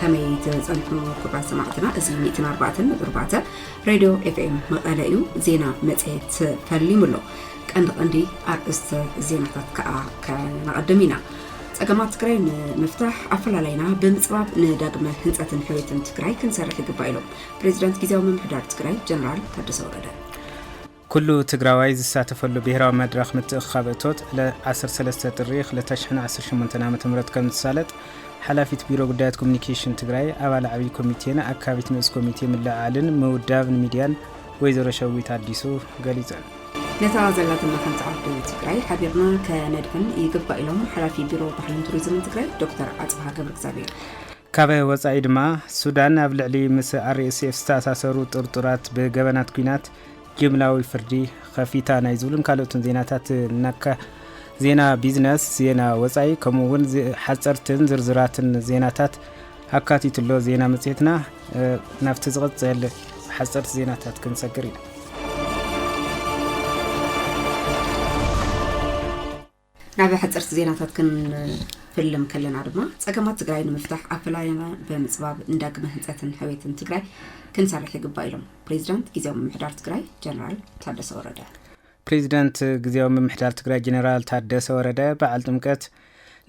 ከመይ ትጸንሑ ክብራት ሰማዕትና እዚ ሚእትን ኣርባዕተን ብርባተ ሬድዮ ኤፍኤም መቐለ እዩ ዜና መጽሔት ፈሊሙ ኣሎ ቀንዲ ቀንዲ ኣርእስተ ዜናታት ከዓ ከነቐድም ኢና ጸገማት ትግራይ ንምፍታሕ ኣፈላላይና ብምፅባብ ንዳግመ ህንፀትን ሕውየትን ትግራይ ክንሰርሕ ይግባእ ኢሎም ፕሬዚዳንት ግዜያዊ ምምሕዳር ትግራይ ጀነራል ታደሰ ወረደ ኩሉ ትግራዋይ ዝሳተፈሉ ብሄራዊ መድረኽ ምትእኽኻብ እቶት ዕለ ዓሰርተ ሰለስተ ጥሪ ክልተ ሽሕን ዓሰርተ ሸሞንተን ዓመተ ምህረት ከምዝሳለጥ ሓላፊት ቢሮ ጉዳያት ኮሚኒኬሽን ትግራይ ኣባል ዓብዪ ኮሚቴን ኣካቢት ንኡስ ኮሚቴ ምልዕዓልን ምውዳብን ሚድያን ወይዘሮ ሸዊት ኣዲሱ ገሊፀን። ነታ ዘላትና ሓንቲ ዓዲ ትግራይ ሓቢርና ከነድሕን ይግባእ ኢሎም ሓላፊ ቢሮ ባህልን ቱሪዝምን ትግራይ ዶክተር ኣፅብሃ ገብረ እግዚኣብሔር። ካብ ወፃኢ ድማ ሱዳን ኣብ ልዕሊ ምስ RSF ዝተኣሳሰሩ ጥርጡራት ብገበናት ኲናት ጅምላዊ ፍርዲ ኸፊታ ናይ ዝብሉን ካልኦትን ዜናታት እናካ ዜና ቢዝነስ፣ ዜና ወፃኢ ከምኡ እውን ሓፀርትን ዝርዝራትን ዜናታት ኣካቲትሎ ዜና መፅሄትና ናብቲ ዝቕፅል ሓፀርቲ ዜናታት ክንሰግር ኢና። ናብ ሓፀርቲ ዜናታት ክንፍልም ከለና ድማ ፀገማት ትግራይ ንምፍታሕ ኣብ ፈላላይና ብምፅባብ ንዳግመ ህንፀትን ሕውየትን ትግራይ ክንሰርሕ ይግባእ ኢሎም ፕሬዚዳንት ግዜያዊ ምምሕዳር ትግራይ ጀነራል ታደሰ ወረደ። ፕሬዚዳንት ግዜያዊ ምምሕዳር ትግራይ ጀነራል ታደሰ ወረደ በዓል ጥምቀት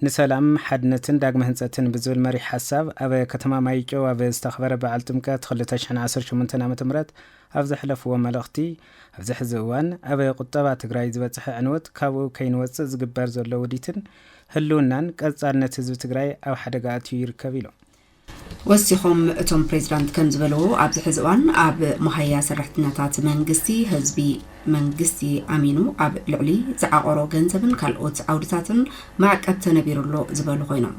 ንሰላም ሓድነትን ዳግመ ህንፀትን ብዝብል መሪሕ ሓሳብ ኣብ ከተማ ማይጨው ኣብ ዝተኸበረ በዓል ጥምቀት 2018 ዓ ም ኣብ ዘሕለፍዎ መልእኽቲ ኣብዚ ሕዚ እዋን ኣብ ቁጠባ ትግራይ ዝበፀሐ ዕንወት ካብኡ ከይንወፅእ ዝግበር ዘሎ ውዲትን ህልውናን ቀፃልነት ህዝቢ ትግራይ ኣብ ሓደጋ ኣእትዩ ይርከብ ኢሎም። ወሲኾም እቶም ፕሬዚዳንት ከምዝበልዎ ኣብዚ ሕዚ እዋን ኣብ መሃያ ሰራሕተኛታት መንግስቲ ህዝቢ መንግስቲ ኣሚኑ ኣብ ልዕሊ ዝዓቖሮ ገንዘብን ካልኦት ዓውድታትን ማዕቀብ ተነቢሩ ኣሎ ዝበሉ ኮይኖም፣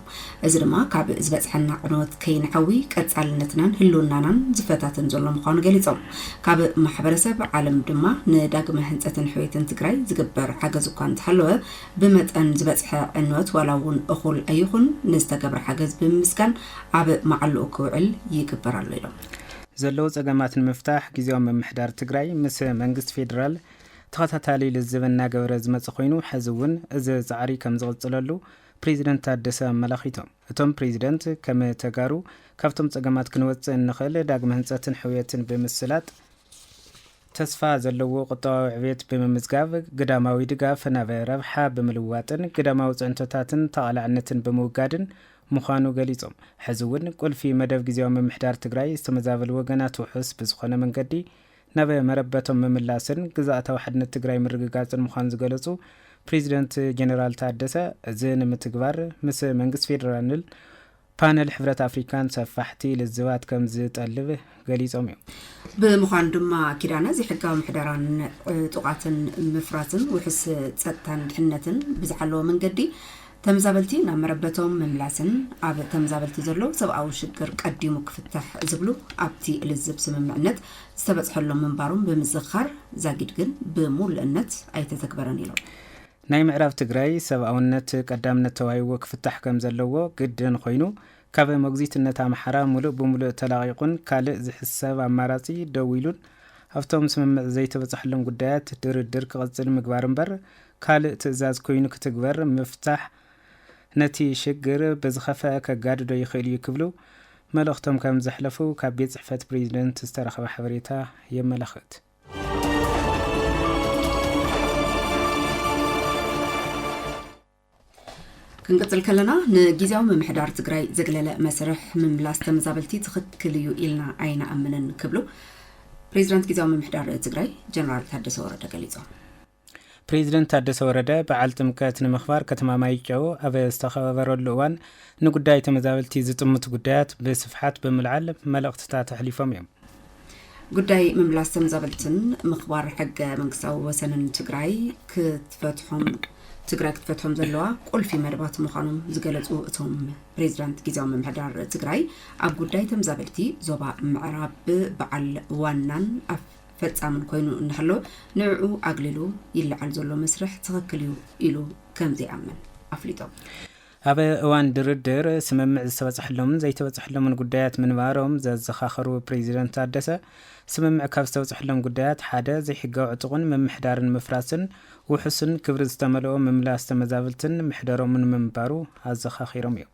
እዚ ድማ ካብ ዝበፅሐና ዕንወት ከይንዐዊ ቀፃልነትናን ህልውናናን ዝፈታተን ዘሎ ምዃኑ ገሊፆም። ካብ ማሕበረሰብ ዓለም ድማ ንዳግመ ህንፀትን ሕውየትን ትግራይ ዝግበር ሓገዝ እኳ እንተሃለወ ብመጠን ዝበፅሐ ዕንወት ዋላ እውን እኹል ኣይኹን ንዝተገብረ ሓገዝ ብምምስጋን ኣብ መዓልኡ ክውዕል ይግበር ኣሎ ኢሎም። ዘለዉ ፀገማት ንምፍታሕ ጊዜያዊ ምምሕዳር ትግራይ ምስ መንግስቲ ፌዴራል ተኸታታሊ ልዝብ እናገበረ ዝመፀ ኮይኑ ሐዚ እውን እዚ ፃዕሪ ከምዝቕፅለሉ ፕሬዚደንት ታደሰ ኣመላኺቶም። እቶም ፕሬዚደንት ከም ተጋሩ ካብቶም ፀገማት ክንወፅእ እንኽእል ዳግመ ህንፀትን ሕውየትን ብምስላጥ ተስፋ ዘለዎ ቁጠባዊ ዕብየት ብምምዝጋብ ግዳማዊ ድጋፍ ናብ ረብሓ ብምልዋጥን ግዳማዊ ፅዕንቶታትን ተቓላዕነትን ብምውጋድን ምዃኑ ገሊፆም። ሐዚ እውን ቁልፊ መደብ ግዚያዊ ምምሕዳር ትግራይ ዝተመዛበሉ ወገናት ውሑስ ብዝኾነ መንገዲ ናብ መረበቶም ምምላስን ግዝኣታዊ ሓድነት ትግራይ ምርግጋፅን ምዃኑ ዝገለፁ ፕሬዚደንት ጀኔራል ታደሰ እዚ ንምትግባር ምስ መንግስት ፌዴራልን ፓነል ሕብረት ኣፍሪካን ሰፋሕቲ ልዝባት ከም ዝጠልብ ገሊፆም እዮም። ብምዃኑ ድማ ኪዳነ ዘይሕጋዊ ምሕደራን ዕጡቓትን ምፍራስን ውሕስ ፀጥታን ድሕነትን ብዝሓለወ መንገዲ ተምዛበልቲ ናብ መረበቶም ምምላስን ኣብ ተምዛበልቲ ዘሎ ሰብኣዊ ሽግር ቀዲሙ ክፍታሕ ዝብሉ ኣብቲ ልዝብ ስምምዕነት ዝተበፅሐሎም ምንባሮም ብምዝኻር ዛጊድ ግን ብሙሉእነት ኣይተተግበረን ኢሎም። ናይ ምዕራብ ትግራይ ሰብኣውነት ቀዳምነት ተዋሂብዎ ክፍታሕ ከምዘለዎ ግድን ኾይኑ ካብ መጉዚትነት ኣምሓራ ሙሉእ ብሙሉእ ተላቒቑን ካልእ ዝሕሰብ ኣማራፂ ደው ኢሉን ኣብቶም ስምምዕ ዘይተበፀሐሎም ጉዳያት ድርድር ክቕፅል ምግባር እምበር ካልእ ትእዛዝ ኮይኑ ክትግበር ምፍታሕ ነቲ ሽግር ብዝኸፈኣ ከጋድዶ ይኽእል እዩ ክብሉ መልእኽቶም ከም ዘሕለፉ ካብ ቤት ጽሕፈት ፕሬዚደንት ዝተረኸበ ሓበሬታ የመላኽት። ክንቅፅል ከለና ንጊዜያዊ ምምሕዳር ትግራይ ዘግለለ መስርሕ ምምላስ ተመዛበልቲ ትኽክል እዩ ኢልና ኣይንኣምንን ክብሉ ፕሬዚዳንት ጊዜያዊ ምምሕዳር ትግራይ ጀነራል ታደሰ ወረደ ገሊፆም። ፕሬዚደንት ታደሰ ወረደ በዓል ጥምቀት ንምኽባር ከተማ ማይጨው ኣብ ዝተኸበበረሉ እዋን ንጉዳይ ተመዛበልቲ ዝጥምቱ ጉዳያት ብስፍሓት ብምልዓል መልእኽትታት ኣሕሊፎም እዮም። ጉዳይ ምምላስ ተመዛበልትን ምኽባር ሕገ መንግስታዊ ወሰንን ትግራይ ክትፈትሖም ትግራይ ክትፈትሖም ዘለዋ ቁልፊ መደባት ምዃኖም ዝገለፁ እቶም ፕሬዚዳንት ግዜያዊ ምምሕዳር ትግራይ ኣብ ጉዳይ ተምዛበልቲ ዞባ ምዕራብ በዓል ዋናን ፈጻምን ኮይኑ እናሃለወ ንዕዑ ኣግሊሉ ይለዓል ዘሎ መስርሕ ትኽክል እዩ ኢሉ ከም ዘይኣምን ኣፍሊጦም። ኣብ እዋን ድርድር ስምምዕ ዝተበፅሐሎምን ዘይተበፅሐሎምን ጉዳያት ምንባሮም ዘዘኻኸሩ ፕሬዚደንት ታደሰ፣ ስምምዕ ካብ ዝተበፅሐሎም ጉዳያት ሓደ ዘይሕጋዊ ዕጡቕን ምምሕዳርን ምፍራስን ውሑስን ክብሪ ዝተመልኦ ምምላስ ተመዛብልትን መሕደሮምን ምንባሩ ኣዘኻኺሮም እዮም።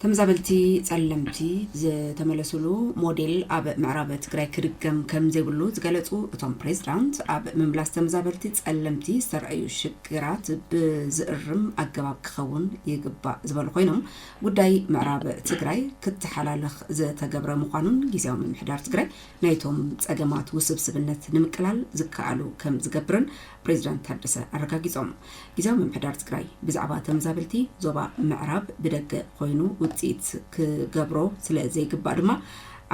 ተመዛበልቲ ፀለምቲ ዝተመለሱሉ ሞዴል ኣብ ምዕራብ ትግራይ ክድገም ከምዘይብሉ ዝገለፁ እቶም ፕሬዚዳንት ኣብ ምምላስ ተመዛበልቲ ፀለምቲ ዝተረኣዩ ሽግራት ብዝእርም ኣገባብ ክኸውን ይግባእ ዝበሉ ኮይኖም ጉዳይ ምዕራብ ትግራይ ክተሓላለኽ ዝተገብረ ምዃኑን ግዜያዊ ምምሕዳር ትግራይ ናይቶም ፀገማት ውስብስብነት ንምቅላል ዝከኣሉ ከም ዝገብርን ፕሬዚዳንት ታደሰ ኣረጋጊፆም። ጊዚያዊ ምምሕዳር ትግራይ ብዛዕባ ተመዛበልቲ ዞባ ምዕራብ ብደገ ኮይኑ ውፅኢት ክገብሮ ስለ ዘይግባእ ድማ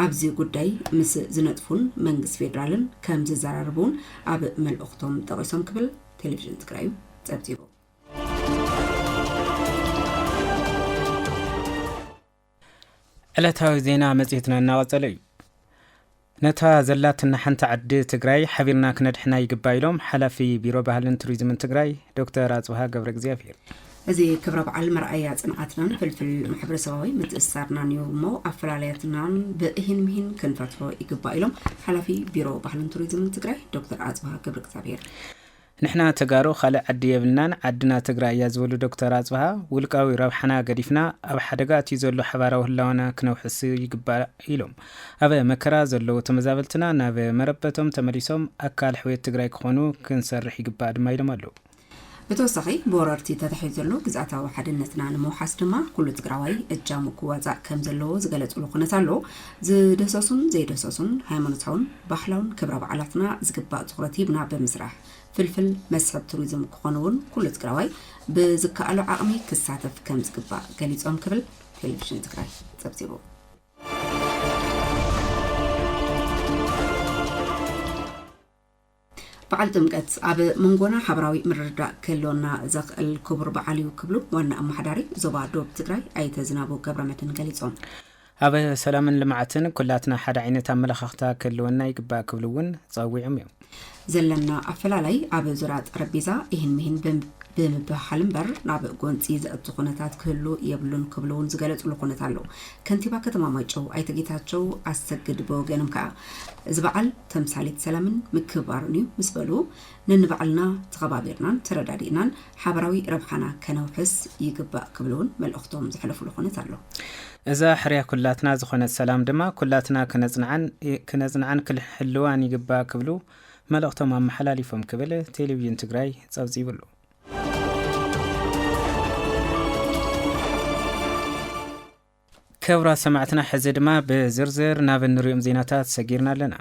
ኣብዚ ጉዳይ ምስ ዝነጥፉን መንግስቲ ፌዴራልን ከም ዝዘራረቡ እውን ኣብ መልእኽቶም ጠቒሶም ክብል ቴሌቪዥን ትግራይ እዩ ፀብፂቡ። ዕለታዊ ዜና መጽሔትና እናቐጸለ እዩ። ነታ ዘላትና ሓንቲ ዓዲ ትግራይ ሓቢርና ክነድሕና ይግባ ኢሎም ሓላፊ ቢሮ ባህልን ቱሪዝምን ትግራይ ዶክተር ኣጽብሃ ገብረ እግዚኣብሄር። እዚ ክብረ በዓል መርኣያ ፅንዓትናን ፍልፍል ማሕበረሰባዊ ምትእስሳርናን እዩ እሞ ኣፈላለያትናን ብእሂን ምሂን ክንፈትሖ ይግባእ ኢሎም ሓላፊ ቢሮ ባህልን ቱሪዝምን ትግራይ ዶክተር ኣፅብሃ ገብረ እግዚኣብሔር ንሕና ተጋሩ ካልእ ዓዲ የብልናን ዓድና ትግራይ እያ ዝበሉ ዶክተር ኣፅብሃ፣ ውልቃዊ ረብሓና ገዲፍና ኣብ ሓደጋ ኣትዩ ዘሎ ሓባራዊ ህላወና ክነውሕስ ይግባእ ኢሎም። ኣብ መከራ ዘለዉ ተመዛበልትና ናብ መረበቶም ተመሊሶም ኣካል ሕውየት ትግራይ ክኾኑ ክንሰርሕ ይግባእ ድማ ኢሎም ኣለዉ። ብተወሳኺ ብወረርቲ ተታሒዙ ዘሎ ግዝኣታዊ ሓድነትና ንምውሓስ ድማ ኩሉ ትግራዋይ እጃሙ ክዋፃእ ከምዘለዎ ዝገለፅሉ ኩነት ኣሎ። ዝደህሰሱን ዘይደህሰሱን ሃይማኖታውን ባህላውን ክብረ በዓላትና ዝግባእ ትኹረት ሂብና ብምስራሕ ፍልፍል መስሕብ ቱሪዝም ክኾኑ እውን ኩሉ ትግራዋይ ብዝከኣሎ ዓቕሚ ክሳተፍ ከም ዝግባእ ገሊፆም ክብል ቴሌቪዥን ትግራይ ፀብፂቡ። በዓል ጥምቀት ኣብ መንጎና ሓበራዊ ምርድዳእ ክህልወና ዘኽእል ክቡር በዓል እዩ ክብሉ ዋና ኣመሓዳሪ ዞባ ዶብ ትግራይ ኣይተ ዝናቡ ገብረመድህን ገሊፆም። ኣብ ሰላምን ልምዓትን ኩላትና ሓደ ዓይነት ኣመለኻኽታ ክህልወና ይግባእ ክብሉ እውን ፀዊዖም እዮም። ዘለና ኣፈላላይ ኣብ ዙርያ ጠረጴዛ ይህን ምሂን ብምብህሃል እምበር ናብ ጎንፂ ዘእቱ ኩነታት ክህሉ የብሉን ክብሉ እውን ዝገለፅሉ ኩነት ኣሎ። ከንቲባ ከተማ ማይጨው ኣይተ ጌታቸው ኣሰግድ ብወገኖም ከኣ፣ እዚ በዓል ተምሳሌት ሰላምን ምክብባርን እዩ ምስ በሉ፣ ነንባዕልና ተኸባቢርናን ተረዳዲእናን ሓበራዊ ረብሓና ከነውሕስ ይግባእ ክብሉ እውን መልእኽቶም ዘሕለፉሉ ኩነት ኣሎ። እዛ ሕርያ ኩላትና ዝኾነት ሰላም ድማ ኩላትና ክነፅንዓን ክንሕልዋን ይግባእ ክብሉ መልእኽቶም ኣመሓላሊፎም ክብል ቴሌቪዥን ትግራይ ፀብፂቡሉ። ክብራት ሰማዕትና ሕዚ ድማ ብዝርዝር ናብ እንሪኦም ዜናታት ሰጊርና ኣለና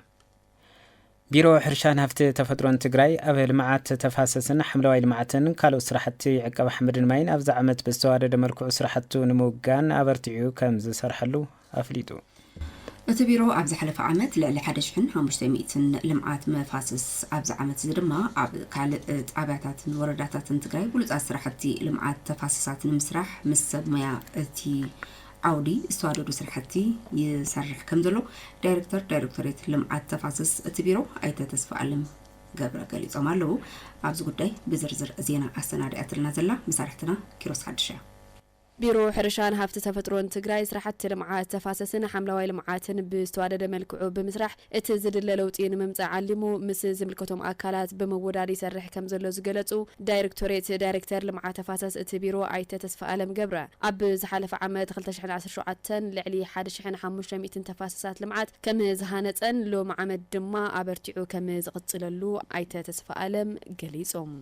ቢሮ ሕርሻን ሃፍቲ ተፈጥሮን ትግራይ ኣብ ልምዓት ተፋሰስን ሓምለዋይ ልምዓትን ካልኦት ስራሕቲ ዕቀባ ሓመድን ማይን ኣብዚ ዓመት ብዝተዋደደ መልክዑ ስራሕቱ ንምውጋን ኣበርቲዑ ከም ዝሰርሐሉ ኣፍሊጡ። እቲ ቢሮ ኣብ ዝሓለፈ ዓመት ልዕሊ ሓደ ሽሕን ሓሙሽተ ሚእትን ልምዓት መፋስስ ኣብዚ ዓመት እዚ ድማ ኣብ ካልእ ጣብያታትን ወረዳታትን ትግራይ ብሉፃት ስራሕቲ ልምዓት ተፋሰሳት ንምስራሕ ምስ ሰብ ሙያ እቲ ዓውዲ ዝተዋደዱ ስራሕቲ ይሰርሕ ከምዘሎ ዳይሬክተር ዳይሬክቶሬት ልምዓት ተፋሰስ እቲ ቢሮ ኣይተ ተስፋኣለም ገብረ ገሊፆም ኣለው። ኣብዚ ጉዳይ ብዝርዝር ዜና ኣሰናዲኣትልና ዘላ መሳርሕትና ኪሮስ ሓድሽ እያ። ቢሮ ሕርሻን ሃፍቲ ተፈጥሮን ትግራይ ስራሕቲ ልምዓት ተፋሰስን ሓምለዋይ ልምዓትን ብዝተዋደደ መልክዑ ብምስራሕ እቲ ዝድለ ለውጢ ንምምፃእ ዓሊሙ ምስ ዝምልከቶም ኣካላት ብምውዳድ ይሰርሕ ከምዘሎ ዝገለፁ ዳይርክቶሬት ዳይሬክተር ልምዓት ተፋሰስ እቲ ቢሮ ኣይተ ተስፋኣለም ገብረ ኣብ ዝሓለፈ ዓመት ክልተ ሽሕን ዓሰርተ ሸውዓተ ልዕሊ ሓደ ሽሕን ሓሙሽተ ሚእትን ተፋሰሳት ልምዓት ከምዝሃነፀን ሎሚ ዓመት ድማ ኣበርቲዑ ከምዝቕፅለሉ ኣይተ ተስፋኣለም ገሊፆም።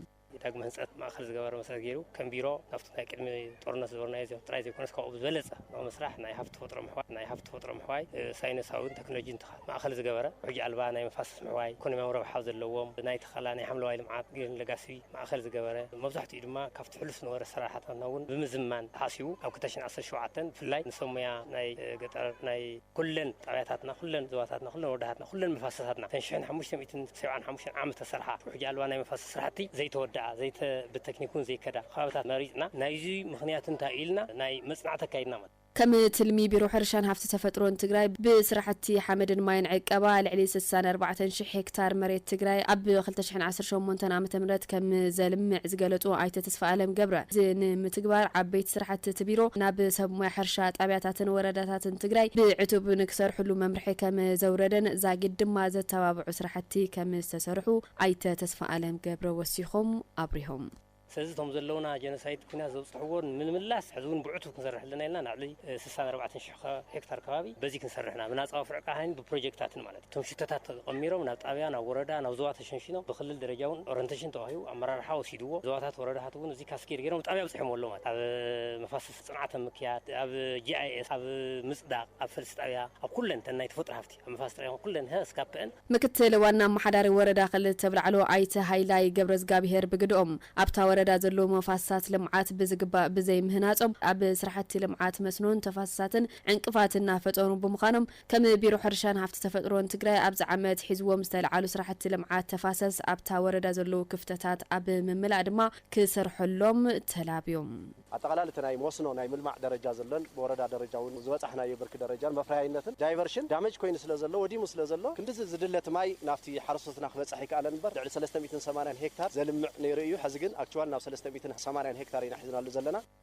ዳግመ ህንፀት ማእኸል ዝገበረ መሰረት ገይሩ ከም ቢሮ ካብቲ ናይ ቅድሚ ጦርነት ዝበርናዮ ጥራይ ዘይኮነስ ካብኡ ብዝበለፀ ኣብ ምስራሕ ናይ ሃፍቲ ተፈጥሮ ምሕዋይ ናይ ሃፍቲ ተፈጥሮ ምሕዋይ ሳይንሳዊን ቴክኖሎጂን ትኻ ማእኸል ዝገበረ ውሕጅ ኣልባ ናይ መፋሰስ ምሕዋይ ኢኮኖሚያዊ ረብሓ ዘለዎም ናይ ተኸላ ናይ ሓምለዋይ ልምዓት ግሪን ለጋሲ ማእኸል ዝገበረ መብዛሕትኡ ድማ ካብቲ ሕሉፍ ዝነበረ ኣሰራርሓታትና እውን ብምዝማን ተሓሲቡ ኣብ ክልተ ሽሕን ዓሰርተ ሸውዓተን ብፍላይ ንሰብ ሙያ ናይ ገጠር ናይ ኩለን ጣብያታትና፣ ኩለን ዞባታትና፣ ኩለን ወረዳታትና፣ ኩለን መፋሰሳትና እተን ሽሕን ሓሙሽተ ሚእትን ሰብዓን ሓሙሽተን ዓመት ዝተሰርሓ ውሕጅ ኣልባ ናይ መፋሰስ ስራሕቲ ዘይተወደኣ፣ ዘይተ ብተክኒክ እውን ዘይከዳ ከባቢታት መሪፅና ናይዙይ ምኽንያት እንታይ እዩ ኢልና ናይ መፅናዕቲ ኣካይድና ማለት እዩ። ከም ትልሚ ቢሮ ሕርሻን ሃፍቲ ተፈጥሮን ትግራይ ብስራሕቲ ሓመድን ማይን ዕቀባ ልዕሊ ስሳን ኣርባዕተን ሽሕ ሄክታር መሬት ትግራይ ኣብ ክልተ ሽሕን ዓሰርተ ሸሞንተን ዓመተ ምህረት ከምዘልምዕ ዝገለፁ ኣይተ ተስፋኣለም ገብረ፣ እዚ ንምትግባር ዓበይቲ ስራሕቲ እቲ ቢሮ ናብ ሰብ ሞያ ሕርሻ፣ ጣብያታትን ወረዳታትን ትግራይ ብዕቱብ ንክሰርሕሉ መምርሒ ከም ዘውረደን ዛጊድ ድማ ዘተባብዑ ስራሕቲ ከም ዝተሰርሑ ኣይተ ተስፋኣለም ገብረ ወሲኾም ኣብሪሆም። ስለዚ እቶም ዘለዉና ጀኖሳይድ ኲናት ዘብፅሕዎ ንምምላስ ሕዚ እውን ብዕቱብ ክንሰርሕ ኣለና ኢልና ናብ ልዕሊ ስሳን ኣርባዕተን ሽሕ ሄክታር ከባቢ በዚ ክንሰርሕ ኢና፣ ብናፃ ወፍሪ ዕቃ ሃኒ ብፕሮጀክታትን ማለት እዩ። እቶም ሽቶታት ተቐሚሮም ናብ ጣብያ፣ ናብ ወረዳ፣ ናብ ዞባ ተሸንሺኖም ብክልል ደረጃ እውን ኦረንተሽን ተዋሂቡ ኣመራርሓ ወሲድዎ። ዞባታት ወረዳታት እውን እዚ ካስኬድ ገይሮም ጣብያ ኣብፂሖምዎ ኣለዉ ማለት ኣብ መፋሰሲ ፅንዓት ኣብ ምክያድ፣ ኣብ GIS፣ ኣብ ምፅዳቕ፣ ኣብ ፈልሲ ጣብያ፣ ኣብ ኩለን እተን ናይ ተፈጥሮ ሃፍቲ ኣብ መፋሰሲ ጣብያ ይኹን ኩለን እሀ እስካብ ፐእን። ምክትል ዋና ኣመሓዳሪ ወረዳ ክልል ተብላዕሎ ኣይተ ሃይላይ ገብረዝጋብሄር ብግደኦም፣ ኣብታ ወረዳ ዘለዉ መፋስሳት ልምዓት ብዝግባእ ብዘይምህናፆም ኣብ ስራሕቲ ልምዓት መስኖን ተፋሰሳትን ዕንቅፋት እናፈጠሩ ብምዃኖም ከም ቢሮ ሕርሻን ሃፍቲ ተፈጥሮን ትግራይ ኣብዚ ዓመት ሒዝዎም ዝተልዓሉ ስራሕቲ ልምዓት ተፋሰስ ኣብታ ወረዳ ዘለዉ ክፍተታት ኣብ ምምላእ ድማ ክሰርሐሎም ተላብዮም። ኣጠቓላሊ እቲ ናይ መስኖ ናይ ምልማዕ ደረጃ ዘሎን ብወረዳ ደረጃ እውን ዝበፃሕናዮ ብርኪ ደረጃን መፍረያይነትን ዳይቨርሽን ዳመጅ ኮይኑ ስለ ዘሎ ወዲሙ ስለ ዘሎ ክንድዚ ዝድለ እቲ ማይ ናብቲ ሓረስቶትና ክበፅሕ ኣይከኣለን እምበር ልዕሊ ሰለስተ ሚእትን ሰማንያን ሄክታር ዘልምዕ ነይሩ እዩ ሐዚ ግን ኣክችዋል ናብ ሰለስተ ሚእትን ሰማንያን ሄክታር ኢና ሒዝናሉ ዘለና።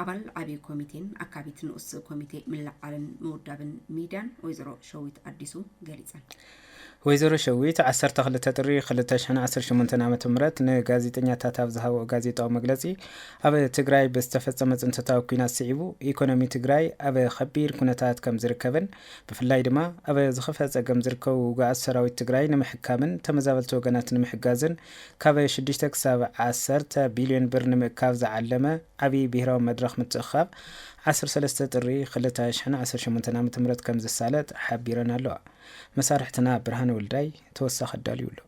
ኣባል ዓብዪ ኮሚቴን ኣካቢት ንኡስ ኮሚቴ ምልዕዓልን ምውዳብን ሚድያን ወይዘሮ ሸዊት ኣዲሱ ገሊፀን። ወይዘሮ ሸዊት ዓሰርተ ክልተ ጥሪ ክልተ ሽሕን ዓሰርተ ሸሞንተን ዓመተ ምህረት ንጋዜጠኛታት ኣብ ዝሃብኦ ጋዜጣዊ መግለፂ ኣብ ትግራይ ብዝተፈፀመ ፅንተታዊ ኲናት ስዒቡ ኢኮኖሚ ትግራይ ኣብ ከቢድ ኩነታት ከም ዝርከብን ብፍላይ ድማ ኣብ ዝኸፍአ ፀገም ዝርከቡ ውጉኣት ሰራዊት ትግራይ ንምሕካምን ተመዛበልቲ ወገናት ንምሕጋዝን ካብ ሽዱሽተ ክሳብ ዓሰርተ ቢልዮን ብር ንምእካብ ዝዓለመ ዓብዪ ብሄራዊ መድረኽ ምትእኽኻብ ዓሰርተ ሰለስተ ጥሪ ክልተ ሽሕን ዓሰርተ ሸሞንተን ዓመተ ምህረት ከምዝሳለጥ ሓቢረን ኣለዋ። መሳርሕትና ብርሃነ ወልዳይ ተወሳኺ ኣዳልዩ ኣሎ።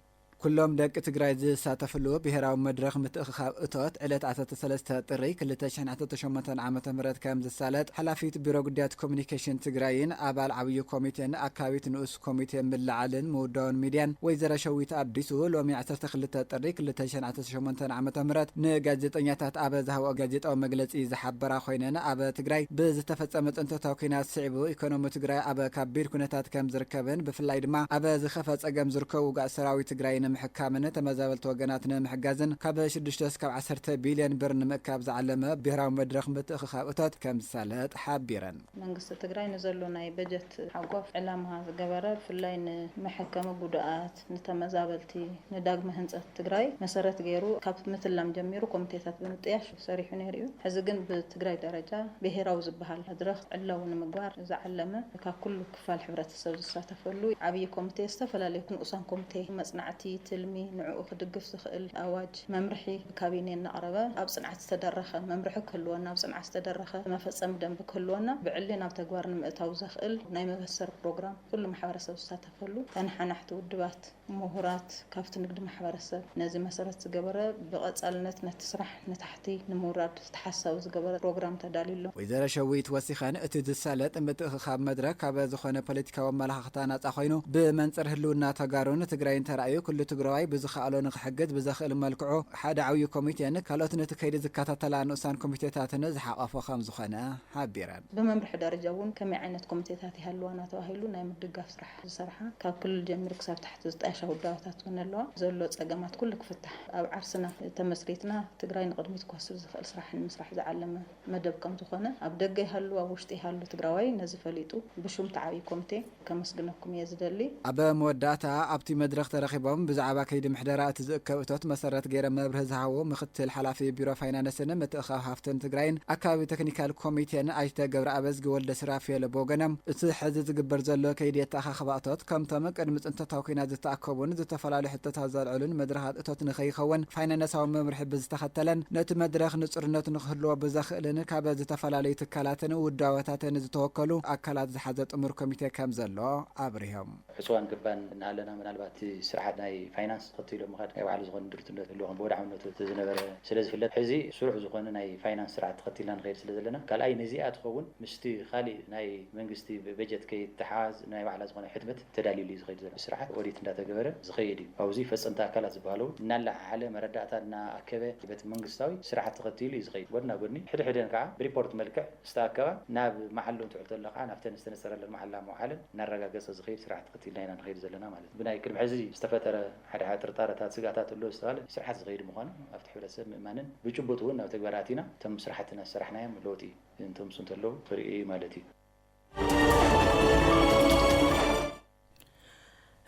ኩሎም ደቂ ትግራይ ዝሳተፍሉ ብሄራዊ መድረኽ ምትእኽኻብ እቶት ዕለት ዓሰርተ ሰለስተ ጥሪ ክልተ ሽሕን ዓሰርተ ሸሞንተን ዓመተ ምህረት ከምዝሳለጥ ሓላፊት ቢሮ ጉዳያት ኮሙኒኬሽን ትግራይን ኣባል ዓብዪ ኮሚቴን ኣካቢት ንኡስ ኮሚቴ ምልዕዓልን ምውዳውን ሚድያን ወይዘሮ ሸዊት ኣዲሱ ሎሚ ዓሰርተ ክልተ ጥሪ ክልተ ሽሕን ዓሰርተ ሸሞንተን ዓመተ ምህረት ንጋዜጠኛታት ኣብ ዝሃብኦ ጋዜጣዊ መግለፂ ዝሓበራ ኮይነን ኣብ ትግራይ ብዝተፈፀመ ፅንተታዊ ኲናት ስዒቡ ኢኮኖሚ ትግራይ ኣብ ካቢድ ኩነታት ከምዝርከብን ብፍላይ ድማ ኣብ ዝኸፈ ፀገም ዝርከቡ ውጉኣት ሰራዊት ትግራይ ንምሕካምን ተመዛበልቲ ወገናት ንምሕጋዝን ካብ ሽዱሽተ እስካብ ዓሰርተ ቢልዮን ብር ንምእካብ ዝዓለመ ብሄራዊ መድረኽ ምትእኽኻብ እቶት ከምዝሳለጥ ሓቢረን። መንግስቲ ትግራይ ንዘሎ ናይ በጀት እቲ ሓቋፍ ዕላማ ዝገበረ ብፍላይ ንመሐከሚ ጉዱኣት፣ ንተመዛበልቲ፣ ንዳግመ ህንፀት ትግራይ መሰረት ገይሩ ካብ ምትላም ጀሚሩ ኮሚቴታት ብምጥያሽ ሰሪሑ ነይሩ እዩ። ሕዚ ግን ብትግራይ ደረጃ ብሄራዊ ዝበሃል መድረኽ ዕላዊ ንምግባር ዝዓለመ ካብ ኩሉ ክፋል ሕብረተሰብ ዝሳተፈሉ ዓብዪ ኮሚቴ፣ ዝተፈላለዩ ንኡሳን ኮሚቴ፣ መፅናዕቲ፣ ትልሚ፣ ንዕኡ ክድግፍ ዝኽእል ኣዋጅ፣ መምርሒ፣ ካቢኔ እናቕረበ ኣብ ፅንዓት ዝተደረኸ መምርሒ ክህልወና፣ ኣብ ፅንዓት ዝተደረኸ መፈፀሚ ደንቢ ክህልወና፣ ብዕሊ ናብ ተግባር ንምእታው ዘኽእል ናይ መበሰሪ ፕሮግራም ኩሉ ማሕበረሰብ ዝሳተፈሉ፣ ተነሓናሕቲ ውድባት፣ ሙሁራት፣ ካፍቲ ንግዲ ማሕበረሰብ ነዚ መሰረት ዝገበረ ብቐፃልነት ነቲ ስራሕ ንታሕቲ ንምውራድ፣ ተሓሳዊ ዝገበረ ፕሮግራም ተዳልዩ ኣሎ። ወይዘሮ ሸዊት ወሲኸን፣ እቲ ዝሳለጥ ምትእኽኻብ መድረክ ካብ ዝኾነ ፖለቲካዊ ኣመላኻኽታ ናፃ ኮይኑ ብመንፅር ህልውና ተጋሩን ትግራይን ተራእዩ ኩሉ ትግራዋይ ብዝኸኣሎ ንኽሕግዝ ብዘኽእል መልክዑ ሓደ ዓብዩ ኮሚቴን ካልኦት ነቲ ከይዲ ዝከታተላ ንኡሳን ኮሚቴታትን ዝሓቖፈ ከምዝኾነ ሓቢረን። ብመምርሒ ደረጃ እውን ከመይ ዓይነት ኮሚቴታት ይሃልዋና ተባሂሉ ናይ ምድጋፍ ስራሕቲ ዝሰርሓ ካብ ክልል ጀሚሩ ክሳብ ታሕቲ ዝጣየሻ ውዳበታት እውን ኣለዋ። ዘሎ ፀገማት ኩሉ ክፍታሕ ኣብ ዓርስና ተመስሪትና ትግራይ ንቕድሚት ክወስድ ዝኽእል ስራሕ ንምስራሕ ዝዓለመ መደብ ከምዝኾነ ኣብ ደገ ይሃሉ ኣብ ውሽጢ ይሃሉ ትግራዋይ ነዚ ፈሊጡ ብሹም እቲ ዓብዪ ኮሚቴ ከመስግነኩም እየ ዝደሊ። ኣብ መወዳእታ ኣብቲ መድረኽ ተረኺቦም ብዛዕባ ከይዲ ምሕደራ እቲ ዝእከብ እቶት መሰረት ገይረም መብርሂ ዝሃቡ ምክትል ሓላፊ ቢሮ ፋይናነስን ምትእኽኻብ ሃፍትን ትግራይን ኣካቢ ተክኒካል ኮሚቴን ኣይተ ገብረኣበዝጊ ወልደሱራፌል ብወገኖም፣ እቲ ሕዚ ዝግበር ዘሎ ከይዲ ኣተኣኻኽባ እቶት ከምቶም ቅድሚ ፅንተታዊ ኲናት ዝተኣከቡን ዝተፈላለዩ ሕቶታት ዘልዕሉን መድረኻት እቶት ንከይኸውን ፋይናነሳዊ መምርሒ ብዝተኸተለን ነቲ መድረኽ ንፁርነት ንክህልዎ ብዘኽእልን ካብ ዝተፈላለዩ ትካላትን ውዳበታትን ዝተወከሉ ኣካላት ዝሓዘ ጥሙር ኮሚቴ ከምዘሎ ኣብሪሆም። ዕፅዋን ገባን እናሃለና ምናልባት እቲ ስርዓት ናይ ፋይናንስ ተኸቲሉ ኣብ ምኻድ ናይ ባዕሉ ዝኾነ ድርቱነት ክህልዎ ብወድዓውነቱ ተዝነበረ ስለዝፍለጥ ሕዚ ስሩዕ ዝኾነ ናይ ፋይናንስ ስርዓት ተኸቲልና ንኸይድ ስለዘለና ካልኣይ ነዚኣ ትኸውን ምስቲ ካሊእ ናይ መንግስቲ በጀት ከይተሓሓዝ ናይ ባዕላ ዝኾነ ሕትመት ተዳሊሉ እዩ ዝኸይድ ዘሎ ብስርዓት ኦዲት እንዳተገበረ ዝኸይድ እዩ ኣብዙይ ፈፀምቲ ኣካላት ዝበሃሉ እውን እናለዓዓለ መረዳእታ እናኣከበ በቲ መንግስታዊ ስርዓት ተኸቲሉ እዩ ዝኸይድ ጎድና ጎድኒ ሕድሕደን ከዓ ብሪፖርት መልክዕ ዝተኣከባ ናብ መዓልኡ እንትውዕል ተሎ ከዓ ናብተን ዝተነፀረለን መዓላ ምውዓልን እናረጋገጸ ዝኸይድ ስርዓት ተኸቲልና ኢና ንኸይድ ዘለና ማለት እዩ። ብናይ ቅድሚ ሕዚ ዝተፈጠረ ሓደ ሓደ ጥርጣረታት፣ ስግኣታት ኣሎ ዝተባህለ ስርዓት ዝኸይድ ምዃኑ ኣብቲ ሕብረተሰብ ምእማንን ብጭቡጥ እውን ናብ ተግባር ኣቲና እቶም ስራሕቲ እናሰራሕናዮም ለውጢ እንተምፅኡ እንተለዉ ክርእ እዩ ማለት እዩ።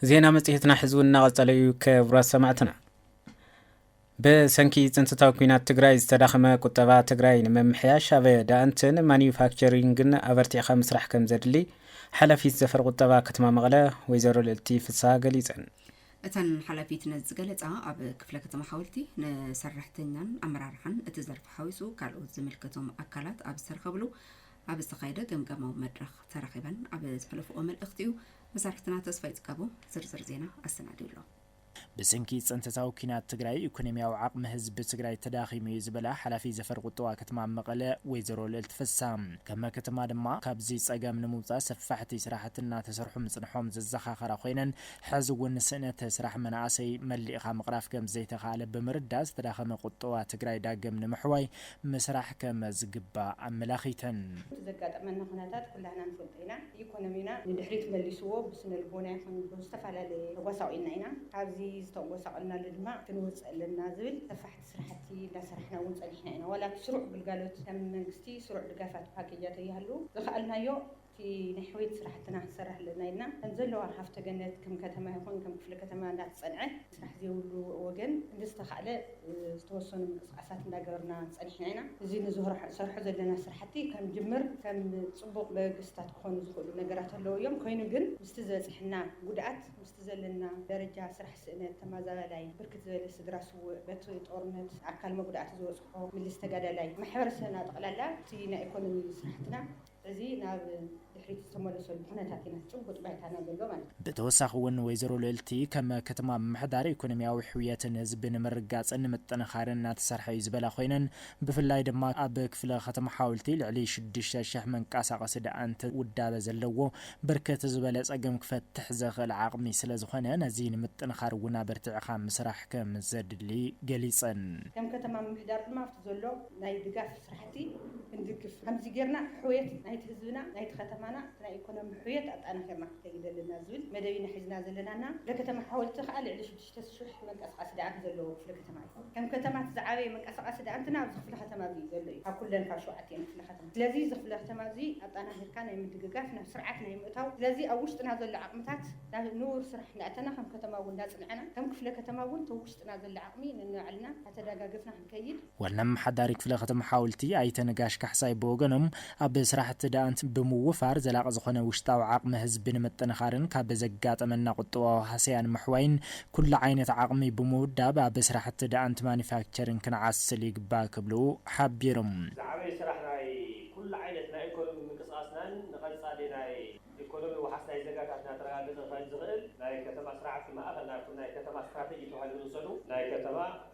ዜና መጽሔትና ሕዚ እውን እናቐጸለ እዩ። ክብራት ሰማዕትና ብሰንኪ ፅንተታዊ ኲናት ትግራይ ዝተዳኸመ ቁጠባ ትግራይ ንምምሕያሽ ኣብ ዳእንትን ማኑፋክቸሪንግን ኣበርቲዕኻ ምስራሕ ከምዘድሊ ሓላፊት ዘፈር ቁጠባ ከተማ መቐለ ወይዘሮ ልእልቲ ፍስሃ ገሊፀን። እተን ሓላፊት ነዚ ዝገለፃ ኣብ ክፍለ ከተማ ሓወልቲ ንሰራሕተኛን ኣመራርሓን እቲ ዘርፊ ሓዊሱ ካልኦት ዝምልከቶም ኣካላት ኣብ ዝተረኸብሉ ኣብ ዝተኻየደ ገምጋማዊ መድረኽ ተረኺበን ኣብ ዝሕለፍኦ መልእኽቲ እዩ። መሳርሕትና ተስፋይ ፅጋቡ ዝርዝር ዜና ኣሰናዲዩ ኣሎ። ብስንኪ ፅንተታዊ ኲናት ትግራይ ኢኮኖሚያዊ ዓቕሚ ህዝቢ ትግራይ ተዳኺሙ እዩ ዝበላ ሓላፊ ዘፈር ቁጠባ ከተማ መቐለ ወይዘሮ ልእልቲ ፍስሃ ከመ ከተማ ድማ ካብዚ ፀገም ንምውፃእ ሰፋሕቲ ስራሕቲ እናተሰርሑ ምፅንሖም ዘዘኻኸራ ኮይነን ሐዚ እውን ስእነት ስራሕ መናእሰይ መሊእኻ ምቕራፍ ከምዘይተኽኣለ ብምርዳእ ዝተዳኸመ ቁጠባ ትግራይ ዳግም ንምሕዋይ ምስራሕ ከመዝግባእ ኣመላኺተን። እቲ ዘጋጠመና ኩነታት ኩላህና ንፈልጦ ኢና። ኢኮኖሚና ንድሕሪት መሊስዎ ብስነልቦና ይኹን ብዝተፈላለየ ተጎሳቂልና ኢና ካብዚ ዝተጎሳቀልናሉ ድማ ክንወፅእ ኣለና ዝብል ሰፋሕቲ ስራሕቲ እንዳሰራሕና እውን ፀኒሕና ኢና ዋላ እቲ ስሩዕ ግልጋሎት ከም መንግስቲ ስሩዕ ድጋፋት ፓኬጃት ዘይሃሉ ዝኸኣልናዮ እቲ ናይ ሕውየት ስራሕትና ክንሰርሕ ኣለና ኢልና ከምዘለዋ ሃፍተ ገነት ከም ከተማ ይኹን ከም ክፍለ ከተማ እንዳተፀንዐ ስራሕ ዘይብሉ ወገን ብዝተኻእለ ዝተወሰኑ ምንቅስቓሳት እንዳገበርና ፀኒሕና ኢና። እዚ ንዝሰርሖ ዘለና ስራሕቲ ከም ጅምር ከም ፅቡቕ መበገሲታት ክኾኑ ዝኽእሉ ነገራት ኣለዉ እዮም። ኮይኑ ግን ምስቲ ዝበፅሐና ጉድኣት ምስቲ ዘለና ደረጃ ስራሕ ስእነት ተማዛባላይ ብርክት ዝበለ ስድራ ስውእ በቲ ጦርነት ኣካል መጉዳእቲ ዝበፅሖ ምልስ ተጋዳላይ ማሕበረሰብና ጠቕላላ እቲ ናይ ኢኮኖሚ ስራሕትና እዚ ናብ ድሕሪት ዝተመለሰሉ ኩነታት ኢና ጭቡጥ ባይታና ዘሎ ማለት እዩ። ብተወሳኺ እውን ወይዘሮ ልእልቲ ከም ከተማ ምምሕዳር ኢኮኖሚያዊ ሕውየትን ህዝቢ ንምርግጋፅን ምጥንኻርን እናተሰርሐ እዩ ዝበላ ኮይነን ብፍላይ ድማ ኣብ ክፍለ ከተማ ሓወልቲ ልዕሊ ሽዱሽተ ሽሕ መንቀሳቐሲ ደኣንት ውዳበ ዘለዎ ብርክት ዝበለ ፀገም ክፈትሕ ዘኽእል ዓቕሚ ስለዝኾነ ነዚ ንምጥንኻር እውን ኣበርቲዕኻ ምስራሕ ከምዘድሊ ገሊፀን። ከም ከተማ ምምሕዳር ድማ ኣብቲ ዘሎ ናይ ድጋፍ ስራሕቲ እቲ ክንድግፍ ከምዚ ጌርና ሕውየት ናይቲ ህዝብና፣ ናይቲ ከተማና፣ እቲ ናይ ኢኮኖሚ ሕውየት ኣጣናኺርና ክንከይድ ኣለና ዝብል መደብ ኢና ሒዝና ዘለና እና ክፍለ ከተማ ሓወልቲ ከኣ ልዕሊ ሽዱሽተ ሽሕ መንቀሳቓሲ ደኣንት ዘለዎ ክፍለ ከተማ እዩ። ከም ከተማ እቲ ዝዓበየ መንቀሳቓሲ ደኣንትና ኣብዚ ክፍለ ከተማ እዚ እዩ ዘሎ እዩ ካብ ኩለን ካብ ሸውዓቲኤን ክፍለ ከተማ። ስለዚ እዚ ክፍለ ከተማ እዚ ኣጣናኺርካ ናይ ምድግጋፍ ናብ ስርዓት ናይ ምእታው ስለዚ ኣብ ውሽጥና ዘሎ ዓቕምታት ናብ ንቡር ስራሕ እንዳእተና ከም ከተማ እውን እንዳጽንዐና ከም ክፍለ ከተማ እውን እቲ ኣብ ውሽጥና ዘሎ ዓቕሚ ነንባዕልና እንዳተዳጋገፍና ዋና ኣመሓዳሪ ክፍለ ከተማ ሓውልቲ ኣይተ ነጋሽ ካሕሳይ ብወገኖም ኣብ ስራሕቲ ደኣንት ብምውፋር ዘላቒ ዝኾነ ውሽጣዊ ዓቕሚ ህዝቢ ንምጥንኻርን ካብ ዘጋጠመና ቁጠባዊ ሃሰያ ንምሕዋይን ኩሉ ዓይነት ዓቕሚ ብምውዳብ ኣብ ስራሕቲ ደኣንት ማኑፋክቸሪንግ ክንዓስል ይግባእ ክብሉ ሓቢሮም። ዝዓበየ ስራሕ ናይ ኩሉ ዓይነት ናይ ኢኮኖሚ ምንቅስቓስናን ንቐፃሊ ናይ ኢኮኖሚ ዋሕስ ናይ ዜጋታትና ተረጋገፀ ክኸን ዝኽእል ናይ ከተማ ስራሕቲ ማእኸል ናብቲ ናይ ከተማ ስትራቴጂ ተባሂሉ ዝውሰዱ ናይ ከተማ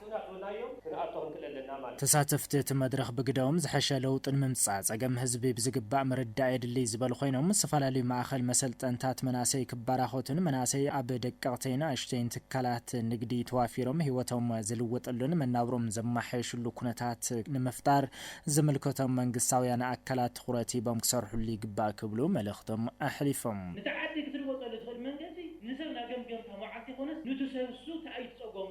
ክነዕብላዮም ክንኣቶ ክንክእል ኣለና ማለት እዩ። ተሳተፍቲ እቲ መድረኽ ብግደኦም፣ ዝሐሸ ለውጢ ንምምፃእ ፀገም ህዝቢ ብዝግባእ ምርዳእ የድልይ ዝበሉ ኮይኖም፣ ዝተፈላለዩ ማእኸል መሰልጠንታት መናእሰይ ክበራኸቱን መናእሰይ ኣብ ደቀቕተይን ኣሽተይን ትካላት ንግዲ ተዋፊሮም ህይወቶም ዝልውጥሉን መናብርኦም ዘማሓየሽሉ ኩነታት ንምፍጣር ዝምልከቶም መንግስታውያን ኣካላት ትኹረት ሂቦም ክሰርሕሉ ይግባእ ክብሉ መልእኽቶም ኣሕሊፎም። ነቲ ዓዲ ክትልወጠሉ ትኽእል መንገዲ ንሰብ ናገምገምካ መዓልቲ ይኾነስ ኑቲ ሰብ እሱ ታይ እዩ እቲ ፀገሙ?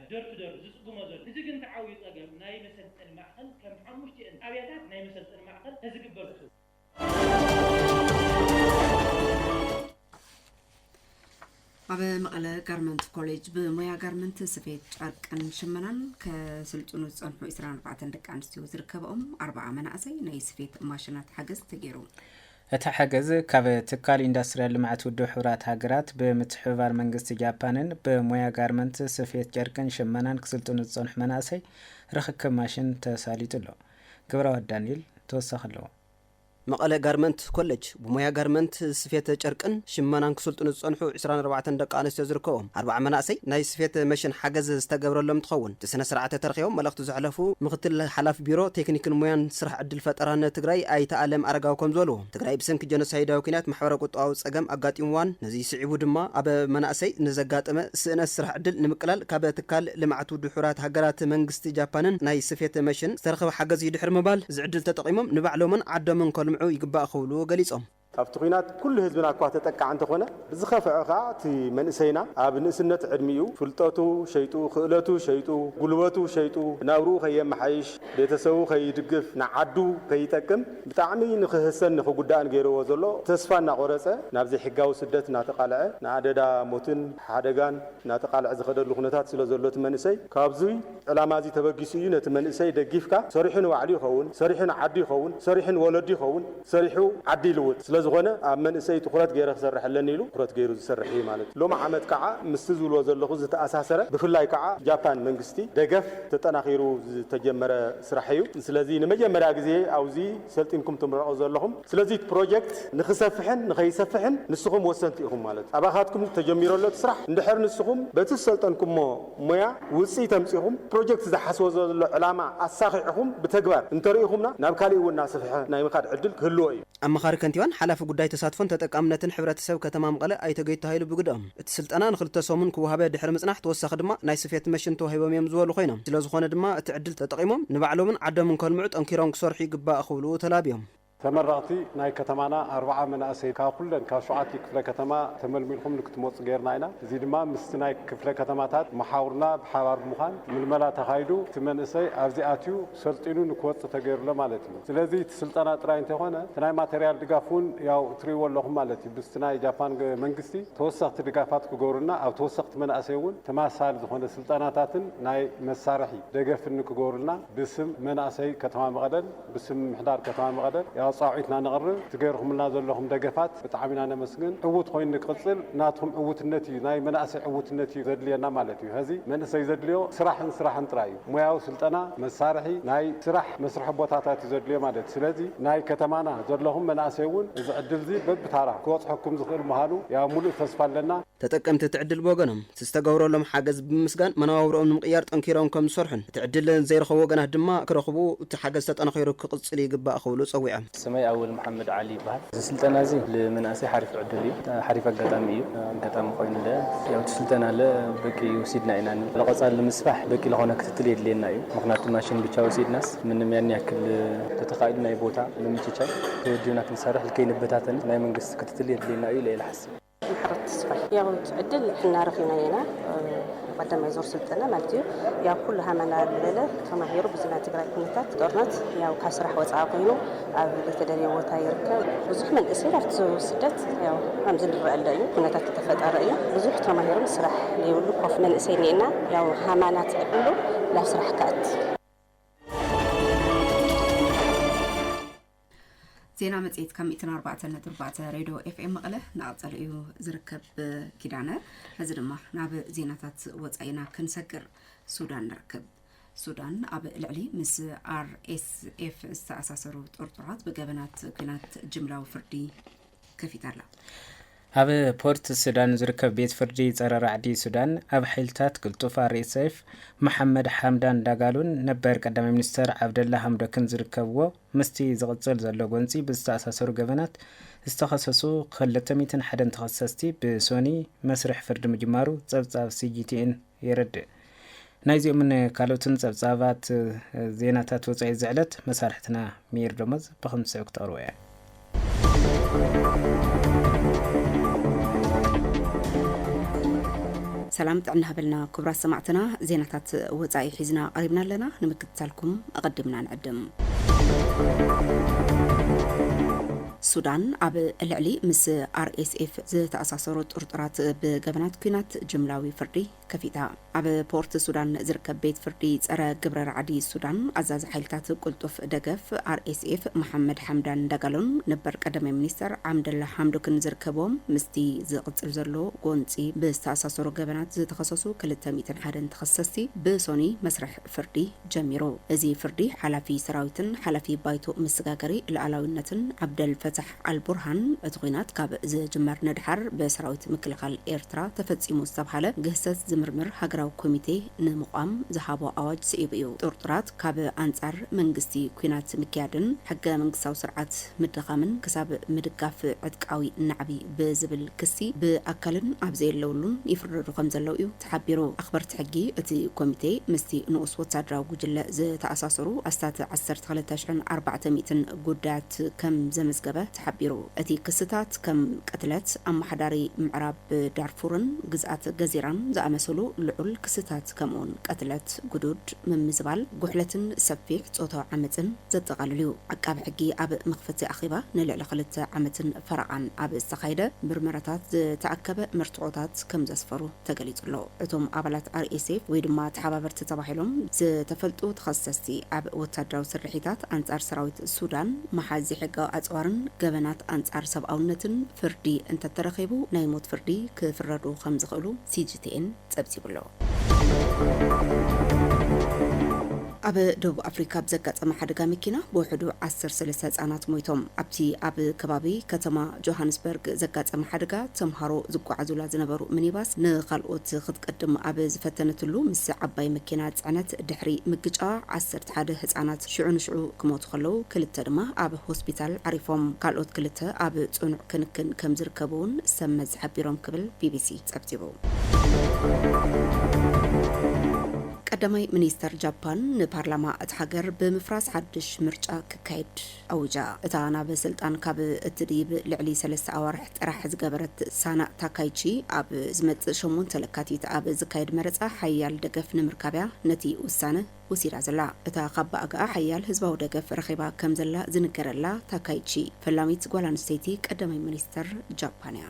ደርፊ ደርፊ ዝጽግሞ ዘሎ ህዚ ግን እቲ ዓብዩ ጸገም ናይ መሰልጠኒ ማእከል ከም ሓሙሽቲኤን ጣብያታት ናይ መሰልጠኒ ማእከል ተዝግበር ብሱ። ኣብ መቐለ ጋርመንት ኮሌጅ ብሞያ ጋርመንት ስፌት ጨርቅን ሽመናን ከስልጥኑ ዝፀንሑ 24 ደቂ ኣንስትዮ ዝርከበኦም ኣርባዓ መናእሰይ ናይ ስፌት ማሽናት ሓገዝ ተገይሩ እቲ ሓገዝ ካብ ትካል ኢንዳስትሪያል ልምዓት ውድብ ሕቡራት ሃገራት ብምትሕብባር መንግስቲ ጃፓንን ብሞያ ጋርመንት፣ ስፌት ጨርቅን ሽመናን ክስልጥኑ ዝጸንሑ መናእሰይ ርኽክብ ማሽን ተሳሊጡ ኣሎ። ግብረዋህድ ዳኒኤል ተወሳኺ ኣለዎ። መቐለ ጋርመንት ኮለጅ ብሞያ ጋርመንት፣ ስፌት ጨርቅን ሽመናን ክስልጥኑ ዝጸንሑ ዕስራን ኣርባዕተን ደቂ ኣንስትዮ ዝርከቦም ኣርብዓ መናእሰይ ናይ ስፌት መሽን ሓገዝ ዝተገብረሎም እንትኸውን፣ እቲ ስነ ስርዓተ ተረኪቦም መልእኽቲ ዘሕለፉ ምክትል ሓላፊ ቢሮ ቴክኒክን ሞያን ስራሕ ዕድል ፈጠራን ትግራይ ኣይተ ኣለም ኣረጋዊ ከምዝበልዎ ትግራይ ብሰንኪ ጀኖሳይዳዊ ኩናት ማሕበረ ቁጠባዊ ፀገም ኣጋጢምዋን ነዙይ ስዒቡ ድማ ኣብ መናእሰይ ንዘጋጠመ ስእነት ስራሕ ዕድል ንምቅላል ካብ ትካል ልምዓት ውድሑራት ሃገራት መንግስቲ ጃፓንን ናይ ስፌት መሽን ዝተረኸበ ሓገዝ እዩ ድሕሪ ምባል እዚ ዕድል ተጠቒሞም ንባዕሎምን ዓዶምን ከልምዑ ይግባእ ክብሉ ገሊፆም። ኣብቲ ኲናት ኩሉ ህዝብና እኳ ተጠቃዕ እንተኾነ ብዝኸፈዐ ከኣ እቲ መንእሰይና ኣብ ንእስነት ዕድሚኡ ፍልጠቱ ሸይጡ ክእለቱ ሸይጡ ጉልበቱ ሸይጡ ናብርኡ ከየማሓይሽ ቤተሰቡ ከይድግፍ ንዓዱ ከይጠቅም ብጣዕሚ ንኽህሰን ንኽጉዳእን ገይርዎ ዘሎ ተስፋ እናቖረጸ ናብ ዘይሕጋዊ ስደት እናተቓልዐ ንኣደዳ ሞትን ሓደጋን እናተቓልዐ ዝኸደሉ ኩነታት ስለዘሎ እቲ መንእሰይ ካብዙይ ዕላማ እዚ ተበጊሱ እዩ ነቲ መንእሰይ ደጊፍካ ሰሪሑ ንባዕሉ ይኸውን፣ ሰሪሑ ንዓዱ ይኸውን፣ ሰሪሑ ንወለዱ ይኸውን፣ ሰሪሑ ዓዲ ይልውጥ። ስለዝኾነ ኣብ መንእሰይ ትኹረት ገይረ ክሰርሕ ኣለኒ ኢሉ ትኹረት ገይሩ ዝሰርሕ እዩ ማለት እዩ። ሎሚ ዓመት ከዓ ምስቲ ዝብልዎ ዘለኹ ዝተኣሳሰረ ብፍላይ ከዓ ጃፓን መንግስቲ ደገፍ ተጠናኺሩ ዝተጀመረ ስራሕ እዩ። ስለዚ ንመጀመርያ ግዜ ኣብዚ ሰልጢንኩም ትምረቑ ዘለኹም። ስለዚ እቲ ፕሮጀክት ንክሰፍሕን ንከይሰፍሕን ንስኹም ወሰንቲ ኢኹም ማለት እዩ። ኣባኻትኩም ተጀሚሩ ኣሎ እቲ ስራሕ። እንድሕር ንስኹም በቲ ዝሰልጠንኩሞ ሞያ ውፅኢት ኣምፂኹም ፕሮጀክት ዝሓስቦ ዘሎ ዕላማ ኣሳኺዕኹም ብተግባር እንተሪኢኹምና ናብ ካሊእ እውን እናሰፍሐ ናይ ምኻድ ዕድል ክህልዎ እዩ። ኣማኻሪ ከንቲባን ሓላፊ ጉዳይ ተሳትፎን ተጠቃምነትን ሕብረተሰብ ከተማ መቐለ ኣይተ ገይቱ ሃይሉ ብግደኦም፣ እቲ ስልጠና ንክልተ ሰሙን ክወሃበ ድሕሪ ምፅናሕ ተወሳኺ ድማ ናይ ስፌት መሽን ተዋሂቦም እዮም ዝበሉ ኮይኖም፣ ስለዝኾነ ድማ እቲ ዕድል ተጠቒሞም ንባዕሎምን ዓዶምን ከልምዑ ጠንኪሮም ክሰርሑ ይግባእ ክብሉ ተላብዮም። ተመረቕቲ ናይ ከተማና ኣርብዓ መናእሰይ ካብ ኩለን ካብ ሸውዓቲኡ ክፍለ ከተማ ተመልሚልኩም ንክትመፁ ገይርና ኢና። እዙይ ድማ ምስቲ ናይ ክፍለ ከተማታት መሓውርና ብሓባር ብምዃን ምልመላ ተኻይዱ እቲ መንእሰይ ኣብዚ ኣትዩ ሰልጢኑ ንክወፅእ ተገይሩ ኣሎ ማለት እዩ። ስለዚ እቲ ስልጠና ጥራይ እንተይኮነ እቲ ናይ ማተርያል ድጋፍ እውን ያው እትሪእዎ ኣለኹም ማለት እዩ። ምስቲ ናይ ጃፓን መንግስቲ ተወሰኽቲ ድጋፋት ክገብሩልና ኣብ ተወሰኽቲ መናእሰይ እውን ተመሳሳሊ ዝኾነ ስልጠናታትን ናይ መሳርሒ ደገፍን ንክገብሩልና ብስም መናእሰይ ከተማ መቐለን ብስም ምምሕዳር ከተማ መቐለ ያው ፃውዒት እና ነቕርብ እቲ ገይርኹምልና ዘለኹም ደገፋት ብጣዕሚ ኢና ነመስግን ዕውት ኾይኑ ንክቕፅል ናትኹም ዕውትነት እዩ ናይ መናእሰይ ዕውትነት እዩ ዘድልየና ማለት እዩ ሀዚ መንእሰይ ዘድልዮ ስራሕን ስራሕን ጥራይ እዩ ሞያዊ ስልጠና መሳርሒ ናይ ስራሕ መስርሒ ቦታታት እዩ ዘድልዮ ማለት ስለዚ ናይ ከተማና ዘለኹም መናእሰይ እውን እዚ ዕድል እዚ በብታራ ክበፅሐኩም ዝኽእል ምዃኑ ያው ሙሉእ ተስፋ ኣለና። ተጠቀምቲ እቲ ዕድል ብወገኖም ዝተገብረሎም ሓገዝ ብምምስጋን መነባብርኦም ንምቕያር ጠንኪሮም ከምዝሰርሑን እቲ ዕድል ዘይረኸቡ ወገናት ድማ ክረኽቡ እቲ ሓገዝ ተጠናኺሩ ክቕፅል ይግባእ ክብሉ ፀዊዖም። ስመይ ኣወል መሓመድ ዓሊ ይበሃል። እዚ ስልጠና እዚ ልመናእሰይ ሓሪፍ ዕድል እዩ። ሓሪፍ ኣጋጣሚ እዩ። ኣጋጣሚ ኮይኑ ለ ያው እቲ ስልጠና ለ በቂ ውሲድና ኢና። ለቐፃሊ ንምስፋሕ በቂ ለኾነ ክትትል የድልየና እዩ። ምኽንያቱ ማሽን ብቻ ውሲድናስ ምንም ያን ያክል ተተኻኢሉ ናይ ቦታ ምምችቻይ ተወዲብና ክንሰርሕ ልከይንበታተን ናይ መንግስቲ ክትትል የድልየና እዩ ኢለ እየ ልሓስብ። ማሕበር ትስፋይ ያው እቲ ዕድል ሕና ረኺብናዮ ኢና ቀዳማይ ዙር ስልጠና ማለት እዩ ያው ኩሉ ሃመና ዝበለ ተማሂሩ ብዙ ናይ ትግራይ ኩነታት ጦርነት ያው ካብ ስራሕ ወፃኢ ኮይኑ ኣብ ዘይተደልየ ቦታ ይርከብ ብዙሕ መንእሰይ ኣብቲ ስደት ያው ከምዚ ንረአለ እዩ ኩነታት ተፈጠረ እዩ ብዙሕ ተማሂሮም ስራሕ ዘይብሉ ኮፍ መንእሰይ ኒኤና ያው ሃማና ትዕድሉ ናብ ስራሕ ከኣት ዜና መጽሔት ካብ 104.4 ሬድዮ ኤፍኤም መቐለ እናቐጸለ እዩ ዝርከብ ኪዳነ ሕዚ ድማ ናብ ዜናታት ወፃኢ ኢና ክንሰግር ሱዳን ንርክብ ሱዳን ኣብ ልዕሊ ምስ ኣርኤስኤፍ ዝተኣሳሰሩ ጥርጡራት ብገበናት ኩናት ጅምላዊ ፍርዲ ከፊታ ኣላ። ኣብ ፖርት ሱዳን ዝርከብ ቤት ፍርዲ ጸረ ራዕዲ ሱዳን ኣብ ሓይልታት ቅልጡፍ ኣርኤስኤፍ መሓመድ ሓምዳን ዳጋሉን ነበር ቀዳማይ ሚኒስተር ዓብደላ ሃምዶክን ዝርከብዎ ምስቲ ዝቕጽል ዘሎ ጎንጺ ብዝተኣሳሰሩ ገበናት ዝተኸሰሱ ክልተ ሚእትን ሓደን ተኸሰስቲ ብሶኒ መስርሕ ፍርዲ ምጅማሩ ጸብጻብ ሲጂቲኤን የረድእ። ናይዚኦምን ካልኦትን ጸብጻባት ዜናታት ወጻኢ እዚ ዕለት መሳርሕትና ሚር ደሞዝ ብክምስዕ ክተቕርቦ እያ። ሰላም ጥዕና ሃበልና ክቡራት ሰማዕትና ዜናታት ወፃኢ ሒዝና ቀሪብና ኣለና ንምክትታልኩም ኣቐዲምና ንዕድም ሱዳን ኣብ ልዕሊ ምስ ኣርኤስኤፍ ዝተኣሳሰሩ ጥርጡራት ብገበናት ኲናት ጅምላዊ ፍርዲ ከፊታ። ኣብ ፖርት ሱዳን ዝርከብ ቤት ፍርዲ ጸረ ግብረ ራዕዲ ሱዳን፣ ኣዛዚ ሓይልታት ቅልጡፍ ደገፍ ኣርኤስኤፍ መሓመድ ሓምዳን ዳጋሎን ነበር ቀዳማይ ሚኒስተር ዓምደላ ሓምዶክን ዝርከብዎም ምስቲ ዝቕጽል ዘሎ ጎንጺ ብዝተኣሳሰሩ ገበናት ዝተኸሰሱ ክልተ ሚእትን ሓደን ተኸሰስቲ ብሶኑይ መስርሕ ፍርዲ ጀሚሩ። እዚ ፍርዲ ሓላፊ ሰራዊትን ሓላፊ ባይቶ መሰጋገሪ ልኣላዊነትን ዓብደል ፈታሕ ኣል ቡርሃን እቲ ኹናት ካብ ዝጅመር ንድሓር ብሰራዊት ምክልኻል ኤርትራ ተፈጺሙ ዝተብሃለ ግህሰት ዝምርምር ሃገራዊ ኮሚቴ ንምቛም ዝሃቦ ኣዋጅ ስዒቡ እዩ። ጥርጡራት ካብ ኣንጻር መንግስቲ ኲናት ምክያድን ሕገ መንግስታዊ ስርዓት ምድኻምን ክሳብ ምድጋፍ ዕጥቃዊ ናዕቢ ብዝብል ክሲ ብኣካልን ኣብ ዘየለውሉን ይፍረዱ ከምዘለው እዩ ተሓቢሩ። ኣኽበርቲ ሕጊ እቲ ኮሚቴ ምስቲ ንኡስ ወታደራዊ ጉጅለ ዝተኣሳሰሩ ኣስታት ዓሰርተ ክልተ ሽሕን ኣርባዕተ ሚእትን ጉዳያት ከም ዘመዝገበ ተሓቢሩ። እቲ ክስታት ከም ቅትለት ኣመሓዳሪ ምዕራብ ዳርፉርን ግዝኣት ገዚራን ዝኣመሰሉ ልዑል ክስታት ከምኡ'ውን ቅትለት፣ ግዱድ ምምዝባል፣ ጉሕለትን ሰፊሕ ጾታዊ ዓመጽን ዘጠቓልል እዩ። ዓቃቢ ሕጊ ኣብ መኽፈቲ ኣኼባ ንልዕሊ ክልተ ዓመትን ፈረቓን ኣብ ዝተኻየደ ምርመራታት ዝተኣከበ መርትዖታት ከም ዘስፈሩ ተገሊጹ ኣሎ። እቶም ኣባላት RSF ወይ ድማ ተሓባበርቲ ተባሂሎም ዝተፈልጡ ተኸሰስቲ ኣብ ወታደራዊ ስርሒታት ኣንጻር ሰራዊት ሱዳን፣ ምሓዝ ዘይሕጋዊ ኣጽዋርን ገበናት ኣንጻር ሰብኣውነትን ፍርዲ እንተተረኺቡ ናይ ሞት ፍርዲ ክፍረዱ ከም ዝኽእሉ CGTN ጸብጺቡ'ሎ። ኣብ ደቡብ ኣፍሪካ ኣብ ዘጋጠመ ሓደጋ መኪና ብውሕዱ ዓሰርተ ሰለስተ ህፃናት ሞይቶም። ኣብቲ ኣብ ከባቢ ከተማ ጆሃንስበርግ ዘጋጠመ ሓደጋ ተምሃሮ ዝጓዓዙላ ዝነበሩ ሚኒባስ ንኻልኦት ክትቅድም ኣብ ዝፈተነትሉ ምስ ዓባይ መኪና ፅዕነት ድሕሪ ምግጫዋ ዓሰርተ ሓደ ህፃናት ሽዑ ንሽዑ ክሞቱ ከለው ክልተ ድማ ኣብ ሆስፒታል ዓሪፎም ካልኦት ክልተ ኣብ ፅኑዕ ክንክን ከምዝርከቡ እውን ሰብ መዚ ሓቢሮም ክብል ቢቢሲ ፀብፂቡ። ቀዳማይ ሚኒስተር ጃፓን ንፓርላማ እታ ሃገር ብምፍራስ ሓድሽ ምርጫ ክካየድ ኣዊጃ። እታ ናብ ስልጣን ካብ እትድይብ ልዕሊ ሰለስተ ኣዋርሕ ጥራሕ ዝገበረት ሳና ታካይቺ፣ ኣብ ዝመጽእ ሸሞንተ ለካቲት ኣብ ዝካየድ መረጻ ሓያል ደገፍ ንምርካብ'ያ ነቲ ውሳነ ወሲዳ ዘላ። እታ ካብ ብኣጋኣ ሓያል ህዝባዊ ደገፍ ረኺባ ከም ዘላ ዝንገረላ ታካይቺ፣ ፈላሚት ጓል ኣንስተይቲ ቀዳማይ ሚኒስተር ጃፓን እያ።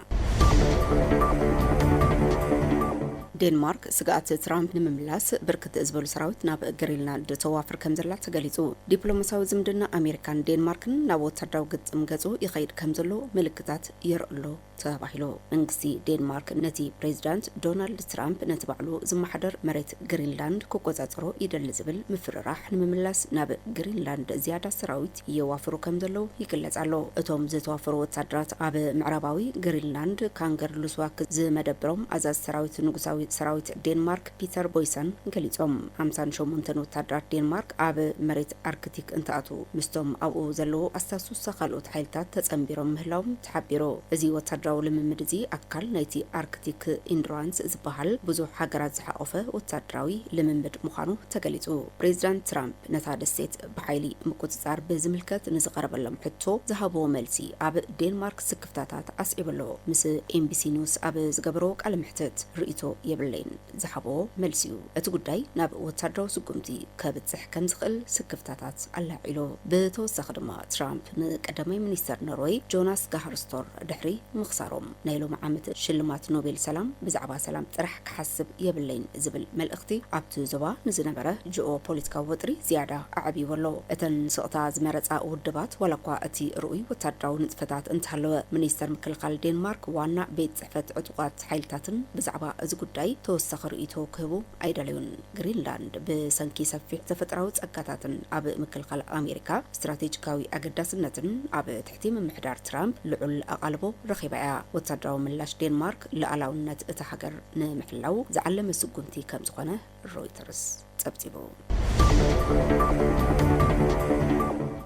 ዴንማርክ ስግኣት ትራምፕ ንምምላስ ብርክት ዝበሉ ሰራዊት ናብ ግሪንላንድ ተዋፍር ከም ዘላ ተገሊጹ። ዲፕሎማስያዊ ዝምድና ኣሜሪካን ዴንማርክን ናብ ወታደራዊ ግጥም ገጹ ይኸይድ ከም ዘሎ ምልክታት የርእሎ ተባሂሉ መንግስቲ ዴንማርክ ነቲ ፕሬዚዳንት ዶናልድ ትራምፕ ነቲ ባዕሉ ዝመሓደር መሬት ግሪንላንድ ክቆፃፀሮ ይደሊ ዝብል ምፍርራሕ ንምምላስ ናብ ግሪንላንድ ዝያዳ ሰራዊት የዋፍሩ ከም ዘለው ይግለፅ ኣሎ። እቶም ዝተዋፈሩ ወታደራት ኣብ ምዕራባዊ ግሪንላንድ ካንገር ሉስዋክ ዝመደብሮም ኣዛዚ ሰራዊት ንጉሳዊ ሰራዊት ዴንማርክ ፒተር ቦይሰን ገሊፆም። ሓምሳን ሸሞንተን ወታደራት ዴንማርክ ኣብ መሬት ኣርክቲክ እንትኣትው ምስቶም ኣብኡ ዘለው ኣስታሱሳ ካልኦት ሓይልታት ተፀንቢሮም ምህላዎም ተሓቢሩ። እዚ ወታደራዊ ልምምድ እዚ ኣካል ናይቲ ኣርክቲክ ኢንዱራንስ ዝበሃል ብዙሕ ሃገራት ዝሓቖፈ ወታደራዊ ልምምድ ምዃኑ ተገሊጹ። ፕሬዚዳንት ትራምፕ ነታ ደሴት ብሓይሊ ምቁጽጻር ብዝምልከት ንዝቐረበሎም ሕቶ ዝሃብዎ መልሲ ኣብ ዴንማርክ ስክፍታታት ኣስዒቡ ኣሎ። ምስ ኤንቢሲ ኒውስ ኣብ ዝገበሮ ቃለ መሕትት ርእይቶ የብለይን። ዝሃቦ መልሲ'ዩ እቲ ጉዳይ ናብ ወታደራዊ ስጉምቲ ከብጽሕ ከም ዝኽእል ስክፍታታት ኣላዒሉ። ብተወሳኺ ድማ ትራምፕ ንቀዳማይ ሚኒስተር ኖርወይ ጆናስ ጋሃር ስቶር ድሕሪ ምኽሳሮም ናይ ሎሚ ዓመት ሽልማት ኖቤል ሰላም ብዛዕባ ሰላም ጥራሕ ክሓስብ የብለይን ዝብል መልእኽቲ ኣብቲ ዞባ ንዝነበረ ጂኦ-ፖለቲካዊ ወጥሪ ዝያዳ ኣዕብይዎ ኣሎ። እተን ስቕታ ዝመረጻ ውድባት ዋላኳ እቲ ርኡይ ወታደራዊ ንጥፈታት እንተሃለወ፣ ሚኒስተር ምክልኻል ዴንማርክ ዋና ቤት ፈት ዕጡቓት ሓይልታትን ብዛዕባ እዚ ጉዳይ ተወሳኺ ርእይቶ ክህቡ ኣይደለዩን። ግሪንላንድ ብሰንኪ ሰፊሕ ተፈጥራዊ ጸጋታትን ኣብ ምክልኻል ኣሜሪካ ስትራቴጂካዊ ኣገዳስነትን ኣብ ትሕቲ ምምሕዳር ትራምፕ ልዑል ኣቓልቦ ረኺባ እያ። ወታደራዊ ምላሽ ዴንማርክ ልኣላውነት እታ ሃገር ንምሕላው ዝዓለመ ስጉምቲ ከም ዝኾነ ሮይተርስ ጸብጺቡ።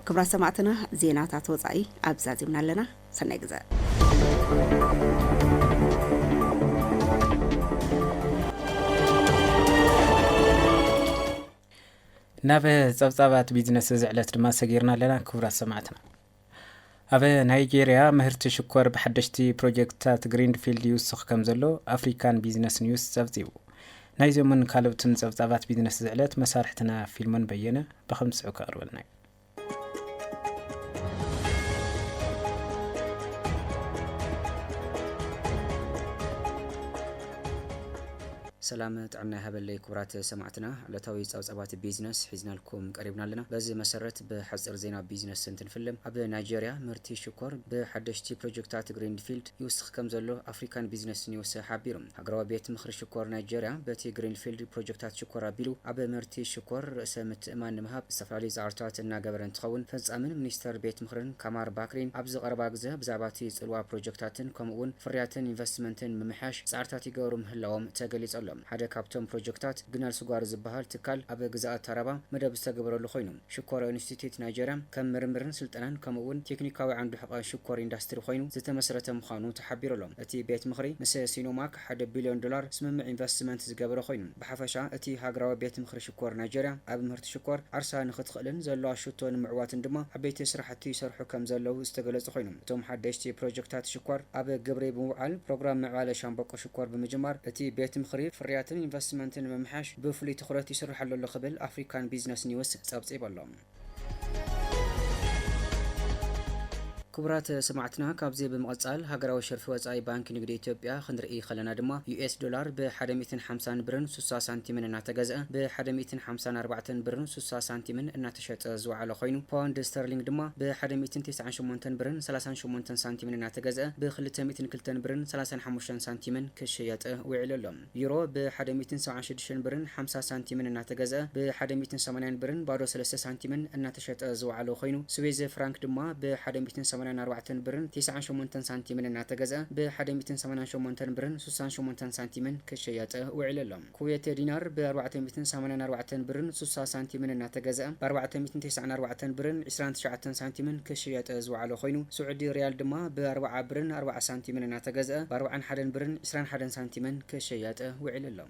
ክብራት ሰማዕትና ዜናታት ወጻኢ ኣብዛዚምና ኣለና። ሰናይ ግዘ። ናብ ጸብጻባት ቢዝነስ እዚ ዕለት ድማ ሰጊርና ኣለና ክቡራት ሰማዕትና ኣብ ናይጀርያ ምህርቲ ሽኮር ብሓደሽቲ ፕሮጀክትታት ግሪንፊልድ ይውስኽ ከም ዘሎ ኣፍሪካን ቢዝነስ ኒውስ ጸብጺቡ ናይዞምን ካልኦትን ጸብጻባት ቢዝነስ ዝዕለት መሳርሕትና ፊልሞን በየነ ብከምስዑ ከቕርበልና እዩ ሰላም ጥዕና ይሃበለይ ክቡራት ሰማዕትና፣ ዕለታዊ ጸብጻባት ቢዝነስ ሒዝናልኩም ቀሪብና ኣለና። በዚ መሰረት ብሓጺር ዜና ቢዝነስ እንትንፍልም፣ ኣብ ናይጀርያ ምህርቲ ሽኮር ብሓደሽቲ ፕሮጀክታት ግሪንፊልድ ይውስኽ ከምዘሎ ኣፍሪካን ቢዝነስ ኒውስ ሓቢሩ። ሃገራዊ ቤት ምኽሪ ሽኮር ናይጀርያ በቲ ግሪንፊልድ ፕሮጀክታት ሽኮር ኣቢሉ ኣብ ምህርቲ ሽኮር ርእሰ ምትእምማን ንምሃብ ዝተፈላለዩ ፃዕርታት እናገበረ እንትኸውን ፈፃሚን ሚኒስተር ቤት ምኽርን ካማር ባክሪን ኣብዚ ቀረባ ግዘ ብዛዕባ እቲ ፅልዋ ፕሮጀክታትን ከምኡ እውን ፍርያትን ኢንቨስትመንትን ምምሕያሽ ፃዕርታት ይገብሩ ምህላዎም ተገሊፁ ኣሎ። ሓደ ካብቶም ፕሮጀክታት ግናል ስጓር ዝበሃል ትካል ኣብ ግዝኣት ታራባ መደብ ዝተገበረሉ ኮይኑ ሽኮር ኢንስቲትዩት ናይጀርያ ከም ምርምርን ስልጠናን ከምኡ እውን ቴክኒካዊ ዓንዱ ሕቘ ሽኮር ኢንዳስትሪ ኾይኑ ዝተመስረተ ምዃኑ ተሓቢሩ ኣሎ። እቲ ቤት ምኽሪ ምስ ሲኖማክ ሓደ ቢልዮን ዶላር ስምምዕ ኢንቨስትመንት ዝገበረ ኾይኑ ብሓፈሻ እቲ ሃገራዊ ቤት ምኽሪ ሽኮር ናይጀርያ ኣብ ምህርቲ ሽኮር ዓርሳ ንኽትኽእልን ዘለዋ ሹቶ ንምዕዋትን ድማ ዓበይቲ ስራሕቲ ይሰርሑ ከም ዘለዉ ዝተገለፁ ኾይኑ እቶም ሓደሽቲ ፕሮጀክታት ሽኮር ኣብ ግብሪ ብምውዓል ፕሮግራም ምዕባለ ሻምበቆ ኮር ብምጅማር እቲ ቤት ምኽሪ ፍርያትን ኢንቨስትመንትን ንምምሕያሽ ብፍሉይ ትኹረት ይስርሐሉ ኣሎ ክብል ኣፍሪካን ቢዝነስ ኒውስ ፀብፂቡ ኣሎ። ክቡራት ሰማዕትና ካብዚ ብምቕፃል ሃገራዊ ሸርፊ ወፃኢ ባንኪ ንግዲ ኢትዮጵያ ክንርኢ ከለና ድማ ዩኤስ ዶላር ብ ሓደ ሚእትን ሓምሳን ብርን ሱሳ ሳንቲምን እናተገዝኣ ብ ሓደ ሚእትን ሓምሳን ኣርባዕተን ብርን ሱሳ ሳንቲምን እናተ ክሸጠ ዝወዓለ ኮይኑ፣ ፓውንድ ስተርሊንግ ድማ ብ ሓደ ሚእትን ተስዓን ሸሞንተን ብርን ሰላሳን ሸሞንተን ሳንቲምን እናተገዝኣ ብ ክልተ ሚእትን ክልተን ብርን ሰላሳን ሓሙሽተን ሳንቲምን ክሽየጥ ውዒሉ ኣሎ። ዩሮ ብ ሓደ ሚእትን ሰብዓን ሽዱሽተን ብርን ሓምሳ ሳንቲምን እናተገዝኣ ብ ሓደ ሚእትን ሰማንያን ብርን ባዶ ሰለስተ ሳንቲምን እናተሸጠ ዝወዓለ ኮይኑ፣ ስዌዝ ፍራንክ ድማ ብ ሓደ ሚእትን ሰማንያን ኣርባዕተን ብርን ተስዓን ሸሞንተን ሳንቲምን እናተገዝኣ ብ ሓደ ሚእትን ሰማንያን ሸሞንተን ብርን ሱሳን ሸሞንተን ሳንቲምን ክሽየጥ ውዒሉ ኣሎ። ኩዌቴ ዲናር ብ ኣርባዕተ ሚእትን ሰማንያን ኣርባዕተን ብርን ሱሳ ሳንቲምን እናተገዝኣ ብ ኣርባዕተ ሚእትን ቴስዓን ኣርባዕተን ብርን ዕስራን ትሽዓተን ሳንቲምን ክሽየጠ ዝወዓለ ኮይኑ ስዑዲ ሪያል ድማ ብ ኣርብዓ ብርን ኣርብዓ ሳንቲምን እናተገዝኣ ብ ኣርብዓን ሓደን ብርን ዕስራን ሓደን ሳንቲምን ክሽየጠ ውዒሉ ኣሎ።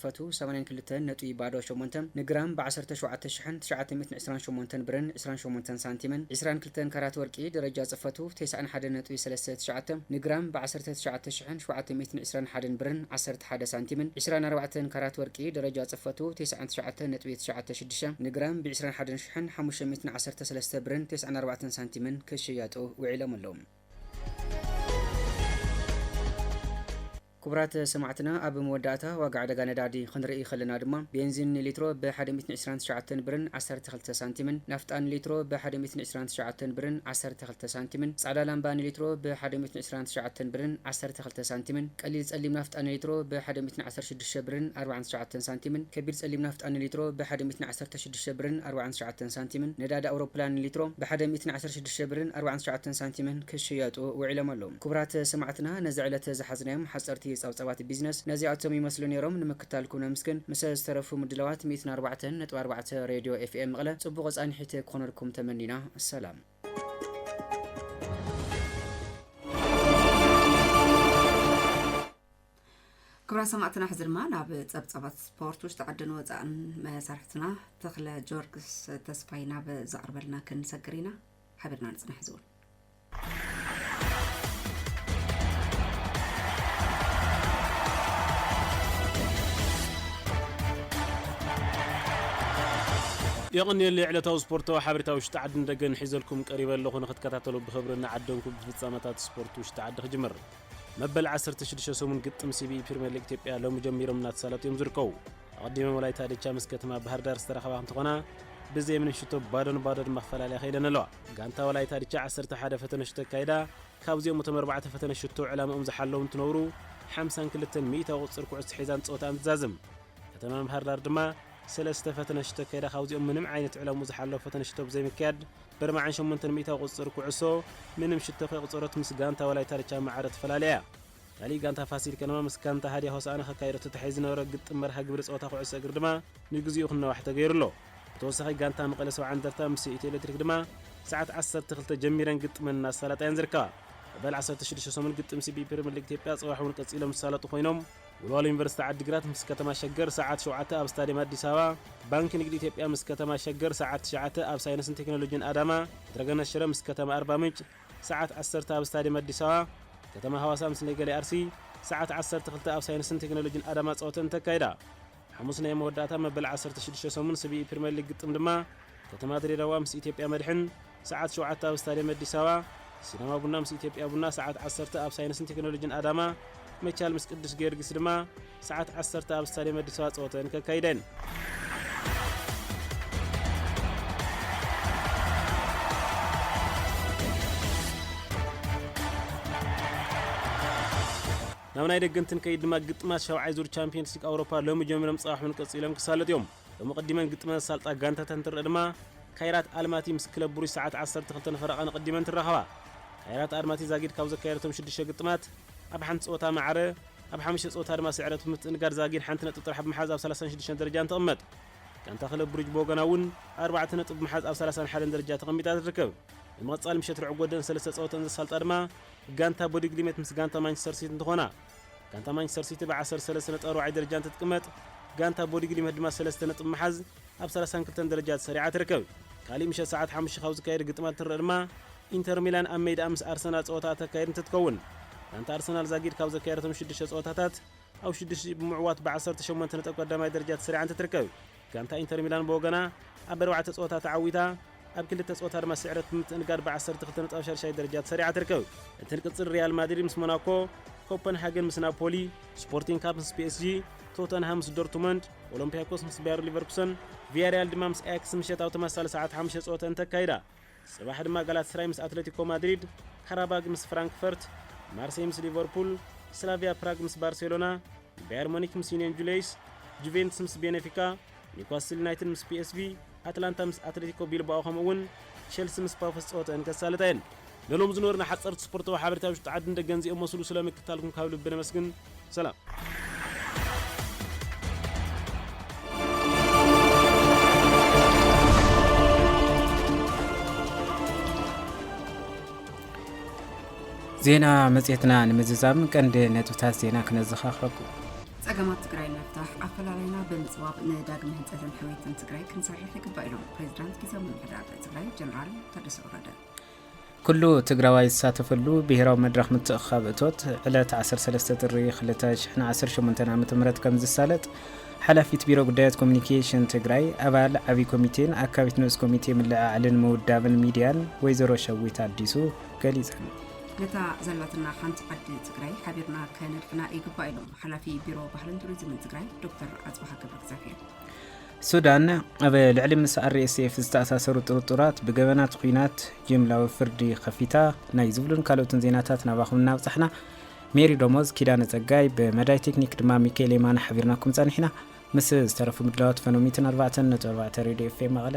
ፈትው ሰማንያን ክልተ ነጥቢ ባዶ ሸሞንተ ን ግራም ብ ዓሰርተ ሸውዓተ ሽሕን ትሽዓተ ሚእትን ዕስራን ሸሞንተን ብርን ዕስራን ሸሞንተን ሳንቲምን ዕስራን ክልተን ካራት ወርቂ ደረጃ ጽፈቱ ተስዓን ሓደ ነጥቢ ሰለስተ ትሽዓተ ን ግራም ብ ዓሰርተ ትሽዓተ ሽሕን ሸውዓተ ሚእትን ዕስራን ሓደን ብርን ዓሰርተ ሓደ ሳንቲምን ዕስራን ኣርባዕተን ካራት ወርቂ ደረጃ ጽፈቱ ተስዓን ትሽዓተ ነጥቢ ትሽዓተ ሽዱሽተ ን ግራም ብ ዕስራን ሓደን ሽሕን ሓሙሽተ ሚእትን ዓሰርተ ሰለስተ ብርን ተስዓን ኣርባዕተን ሳንቲምን ክሽየጡ ውዒሎም ኣለዉ። ክቡራት ሰማዕትና ኣብ መወዳእታ ዋጋ ዕደጋ ነዳዲ ክንርኢ ከለና ድማ ቤንዚን ንሊትሮ ብ ሓደ ሚእትን ዕስራን ትሽዓተን ብርን ዓሰርተ ክልተ ሳንቲምን ናፍጣ ንሊትሮ ብ ሓደ ሚእትን ዕስራን ትሽዓተን ብርን ዓሰርተ ክልተ ሳንቲምን ጻዕዳ ላምባ ንሊትሮ ብ ሓደ ሚእትን ዕስራን ትሽዓተን ብርን ዓሰርተ ክልተ ሳንቲምን ቀሊል ጸሊም ናፍጣ ንሊትሮ ብ ሓደ ሚእትን ዓሰርተ ሽዱሽተ ብርን ኣርባዕን ትሽዓተን ሳንቲምን ከቢድ ጸሊም ናፍጣ ንሊትሮ ብ ሓደ ሚእትን ዓሰርተ ሽዱሽተ ብርን ኣርባዕን ትሽዓተን ሳንቲምን ነዳዲ ኣውሮፕላን ንሊትሮ ብ ሓደ ሚእትን ዓሰርተ ሽዱሽተ ብርን ኣርባዕን ትሽዓተን ሳንቲምን ክሽየጡ ውዒሎም ኣለው። ክቡራት ሰማዕትና ነዚ ዕለት ዝሓዝናዮም ሓጸርቲ ጸብጻባት ቢዝነስ ነዚኣቶም ይመስሉ ኔሮም። ንምክታልኩም ነምስግን። ምስ ዝተረፉ ምድላዋት ሚእትን ኣርባዕተን ነጥቢ ኣርባዕተ ሬድዮ ኤፍኤም መቐለ ጽቡቕ ጻንሒት ክኾነልኩም ተመኒና። ሰላም። ክብራት ሰማዕትና ሕዚ ድማ ናብ ጸብጻባት ስፖርት ውሽጢ ዓድን ወፃእን መሳርሕትና ተኽለ ጆርግስ ተስፋይ ናብ ዘቕርበልና ክንሰግር ኢና ሓቢርና ንጽናሕ ዝውን የቐንየለይ ዕለታዊ ስፖርታዊ ሓበሬታ ውሽጢ ዓድን ደገን ሒዘልኩም ቀሪበ ኣለኹ ንክትከታተሉ ብኽብሪ እናዓደንኩ ብፍጻመታት ስፖርት ውሽጢ ዓዲ ክጅምር መበል 16 ሰሙን ግጥም ሲቢኢ ፕሪምየር ሊግ ኢትዮጵያ ሎሚ ጀሚሮም እናተሳለጡ እዮም ዝርከቡ ኣቐዲመን ወላይታ ድቻ ምስ ከተማ ባህርዳር ዝተራኸባ እንትኾና ብዘይ ምንም ሽቶ ባዶ ንባዶ ድማ ክፈላለያ ከይደን ኣለዋ። ጋንታ ወላይታ ድቻ ዓሰርተ ሓደ ፈተነ ሽቶ ኣካይዳ ካብዚኦም እቶም ኣርባዕተ ፈተነ ሽቶ ዕላምኦም ዝሓለዉ እንትነብሩ ሓምሳን ክልተን ሚኢታዊ ቁፅር ኩዕሶ ሒዛን ፀወታኣን ትዛዝም። ከተማ ባህርዳር ድማ ሰለስተ ፈተነ ሽቶ ኣካይዳ ካብዚኦም ምንም ዓይነት ዕላምኡ ዝሓለወ ፈተነ ሽቶ ብዘይምክያድ በርባዕን ሸሞንተን ሚኢታዊ ቁፅር ኩዕሶ ምንም ሽቶ ከይቑፀረት ምስ ጋንታ ወላይታ ድቻ ማዕረ ተፈላልያ እያ። ካልእ ጋንታ ፋሲል ከነማ ምስ ጋንታ ሃድያ ሆሳእና ከካይዶ ተታሒዙ ዝነበረ ግጥም መርሃ ግብሪ ጸወታ ኩዕሶ እግሪ ድማ ንግዚኡ ክናዋሕ ተገይሩ ኣሎ። ብተወሳኺ ጋንታ መቐለ ሰብዓ እንደርታ ምስ ኢትዮ ኤለትሪክ ድማ ሰዓት ዓሰርተ ክልተ ጀሚረን ግጥመን እናሳለጣ እየን ዝርከባ። መበል ዓሰርተ ሽዱሽተ ሰሙን ግጥም ሲቢ ፕሪመር ሊግ ኢትዮጵያ ጽባሕ እውን ቀጺሎም ዝሳለጡ ኮይኖም፣ ወልዋሎ ዩኒቨርሲቲ ዓዲግራት ምስ ከተማ ሸገር ሰዓት ሸውዓተ ኣብ ስታድየም ኣዲስ ኣበባ፣ ባንኪ ንግዲ ኢትዮጵያ ምስ ከተማ ሸገር ሰዓት ትሽዓተ ኣብ ሳይንስን ቴክኖሎጂን ኣዳማ፣ ፕትረገነት ሽረ ምስ ከተማ ኣርባምንጭ፣ ሰዓት ዓሰርተ ኣብ ስታድየም ኣዲስ ኣበባ፣ ከተማ ሃዋሳ ምስ ነገሌ ኣርሲ፣ ሰዓት ዓሰርተ ክልተ ኣብ ሳይንስን ቴክኖሎጂን ኣዳማ ጸወተኣን ተካይዳ። ሓሙስ ናይ መወዳእታ መበል ዓሰርተ ሽዱሽተ ሰሙን ስቪኢ ፕሪመር ሊግ ግጥም ድማ ከተማ ድሬዳዋ ምስ ኢትዮጵያ መድሕን፣ ሰዓት ሸውዓተ ኣብ ስታድየም ኣዲስ ኣበባ፣ ሲዳማ ቡና ምስ ኢትዮጵያ ቡና፣ ሰዓት ዓሰርተ ኣብ ሳይንስን ቴክኖሎጂን ኣዳማ፣ መቻል ምስ ቅዱስ ጊዮርጊስ ድማ፣ ሰዓት ዓሰርተ ኣብ ስታድየም ኣዲስ ኣበባ ጸወተን ከካይደን። ናብ ናይ ደገን ትንከይድ ድማ ግጥማት ሻውዓይ ዙር ቻምፒየንስ ሊግ ኣውሮፓ ሎሚ ጀሚሮም ጽባሕ እውን ቀጺሎም ክሳለጡ እዮም ሎሚ ቅዲመን ግጥመን ዝሳልጣ ጋንታታት እንትርእ ድማ ካይራት ኣልማቲ ምስ ክለብ ብሩጅ ሰዓት 12 ፈረቓ ንቅዲመን ትራኸባ ካይራት ኣልማቲ ዛጊድ ካብ ዘካየደቶም ሽዱሽተ ግጥማት ኣብ ሓንቲ ጸወታ ማዕረ፣ ኣብ ሓሙሽተ ጸወታ ድማ ስዕረት ብምስትእንጋድ ዛጊድ ሓንቲ ነጥቢ ጥራሕ ብምሓዝ ኣብ ሰላሳን ሽዱሽተን ደረጃን ትቕመጥ። ጋንታ ክለብ ብሩጅ ብወገና እውን ኣርባዕተ ነጥቢ ብምሓዝ ኣብ ሰላሳን ሓደን ደረጃ ተቐሚጣ ትርከብ። ብምቕጻል ምሸት ርዕግ ወደን ሰለስተ ጸወተን ዘሳልጣ ድማ ጋንታ ቦዲግሊመት ምስ ጋንታ ማንቸስተር ሲቲ እንትኾና፣ ጋንታ ማንቸስተር ሲቲ ብ ዓሰርተ ሰለስተ ነጥቢ ኣርባዓይ ደረጃ እንትትቅመጥ፣ ጋንታ ቦዲግሊመት ድማ ሰለስተ ነጥቢ ብምሓዝ ኣብ ሰላሳን ክልተን ደረጃ ተሰሪዓ ትርከብ። ካሊእ ምሸት ሰዓት ሓሙሽተ ካብ ዝካየድ ግጥማት እንትንረእ ድማ ኢንተር ሚላን ኣብ ሜድኣ ምስ ኣርሰናል ጸወታ እተካይድ እንትትከውን፣ ጋንታ ኣርሰናል ዛጊድ ካብ ዘካየደቶም ሽዱሽተ ጸወታታት ኣብ ሽዱሽቲኡ ብምዕዋት ብ ዓሰርተ ሸሞንተ ነጥቢ ቀዳማይ ደረጃ ተሰሪዓ እንትትርከብ፣ ጋንታ ኢንተር ሚላን ብወገና ኣብ ኣርባዕተ ጸወታ ተዓዊታ ኣብ ክልተ ጸወታ ድማ ስዕረት ብምትእንጋድ ብ ዓሰርተ ክልተ ነጥቢ ኣብ ሻድሻይ ደረጃ ተሰሪዓ ትርከብ። እንትንቅጽል ሪያል ማድሪድ ምስ ሞናኮ፣ ኮፐንሃገን ምስ ናፖሊ፣ ስፖርቲንግ ካብ ምስ ፒኤስጂ፣ ቶተንሃም ምስ ዶርትመንድ፣ ኦሎምፒያኮስ ምስ ባየር ሊቨርኩሰን፣ ቪያሪያል ድማ ምስ ኣያክስ ምሸት ኣብ ተመሳሳሊ ሰዓት ሓሙሽተ ጸወተን እንተካይዳ፣ ጽባሕ ድማ ጋላትስራይ ምስ ኣትለቲኮ ማድሪድ፣ ካራባግ ምስ ፍራንክፈርት፣ ማርሴይ ምስ ሊቨርፑል፣ ስላቪያ ፕራግ ምስ ባርሴሎና፣ ባየር ሞኒክ ምስ ዩንዮን ጁሌይስ፣ ጁቬንትስ ምስ ቤነፊካ፣ ኒውካስትል ዩናይትድ ምስ ፒኤስቪ፣ ኣትላንታ ምስ ኣትለቲኮ ቢልባኦ ከምኡ'ውን ቸልሲ ምስ ፓፎስ ጸወተኣን ከሳልጣ እየን። ንሎሚ ዝነበሩና ሓጸርቲ ስፖርታዊ ሓበሬታ ውሽጢ ዓድን ደገን እዚኦም መስሉ ስለ ምክትታልኩም ካብ ልቢ ነመስግን። ሰላም። ዜና መፅትና ንምዝዛም ቀንዲ ነጥብታት ዜና ክነዘኻኽረኩ ፀገማት ትግራይ ንምፍታሕ ኣፈላላይና ብምፅባብ ንዳግመ ህንፀትን ሕውየትን ትግራይ ክንሰርሕ ይግባእ ኢሎም ፕሬዚዳንት ጊዜያዊ ምምሕዳር ትግራይ ጀነራል ታደሰ ወረደ ኩሉ ትግራዋይ ዝሳተፈሉ ብሄራዊ መድረኽ ምትእኽኻብ እቶት ዕለት ዓሰርተ ሰለስተ ጥሪ ክልተ ሽሕን ዓሰርተ ሸሞንተን ዓመተ ምህረት ከምዝሳለጥ ሓላፊት ቢሮ ጉዳያት ኮሚኒኬሽን ትግራይ ኣባል ዓብዪ ኮሚቴን ኣካቢት ንኡስ ኮሚቴ ምልዕዓልን ምውዳብን ሚድያን ወይዘሮ ሸዊት ኣዲሱ ገሊፀን። ነታ ዘላትና ሓንቲ ዓዲ ትግራይ ሓቢርና ከነድሕና ይግባእ ኢሎም ሓላፊ ቢሮ ባህልን ቱሪዝምን ትግራይ ዶክተር ኣፅባሃ ገብረእግዚኣብሄር። ሱዳን፣ ኣብ ልዕሊ ምስ RSF ዝተኣሳሰሩ ጥርጡራት ብገበናት ኹናት ጅምላዊ ፍርዲ ከፊታ። ናይ ዝብሉን ካልኦትን ዜናታት ናባኹም እናብጻሕና ሜሪ ደሞዝ፣ ኪዳነ ጸጋይ፣ ብመዳይ ቴክኒክ ድማ ሚካኤል የማነ ሓቢርናኩም ጸኒሕና። ምስ ዝተረፉ ምድላዋት ፈኖሚትን ኣርባዕተን ነጥቢ ኣርባዕተ ሬድዮ ኤፍኤም መቐለ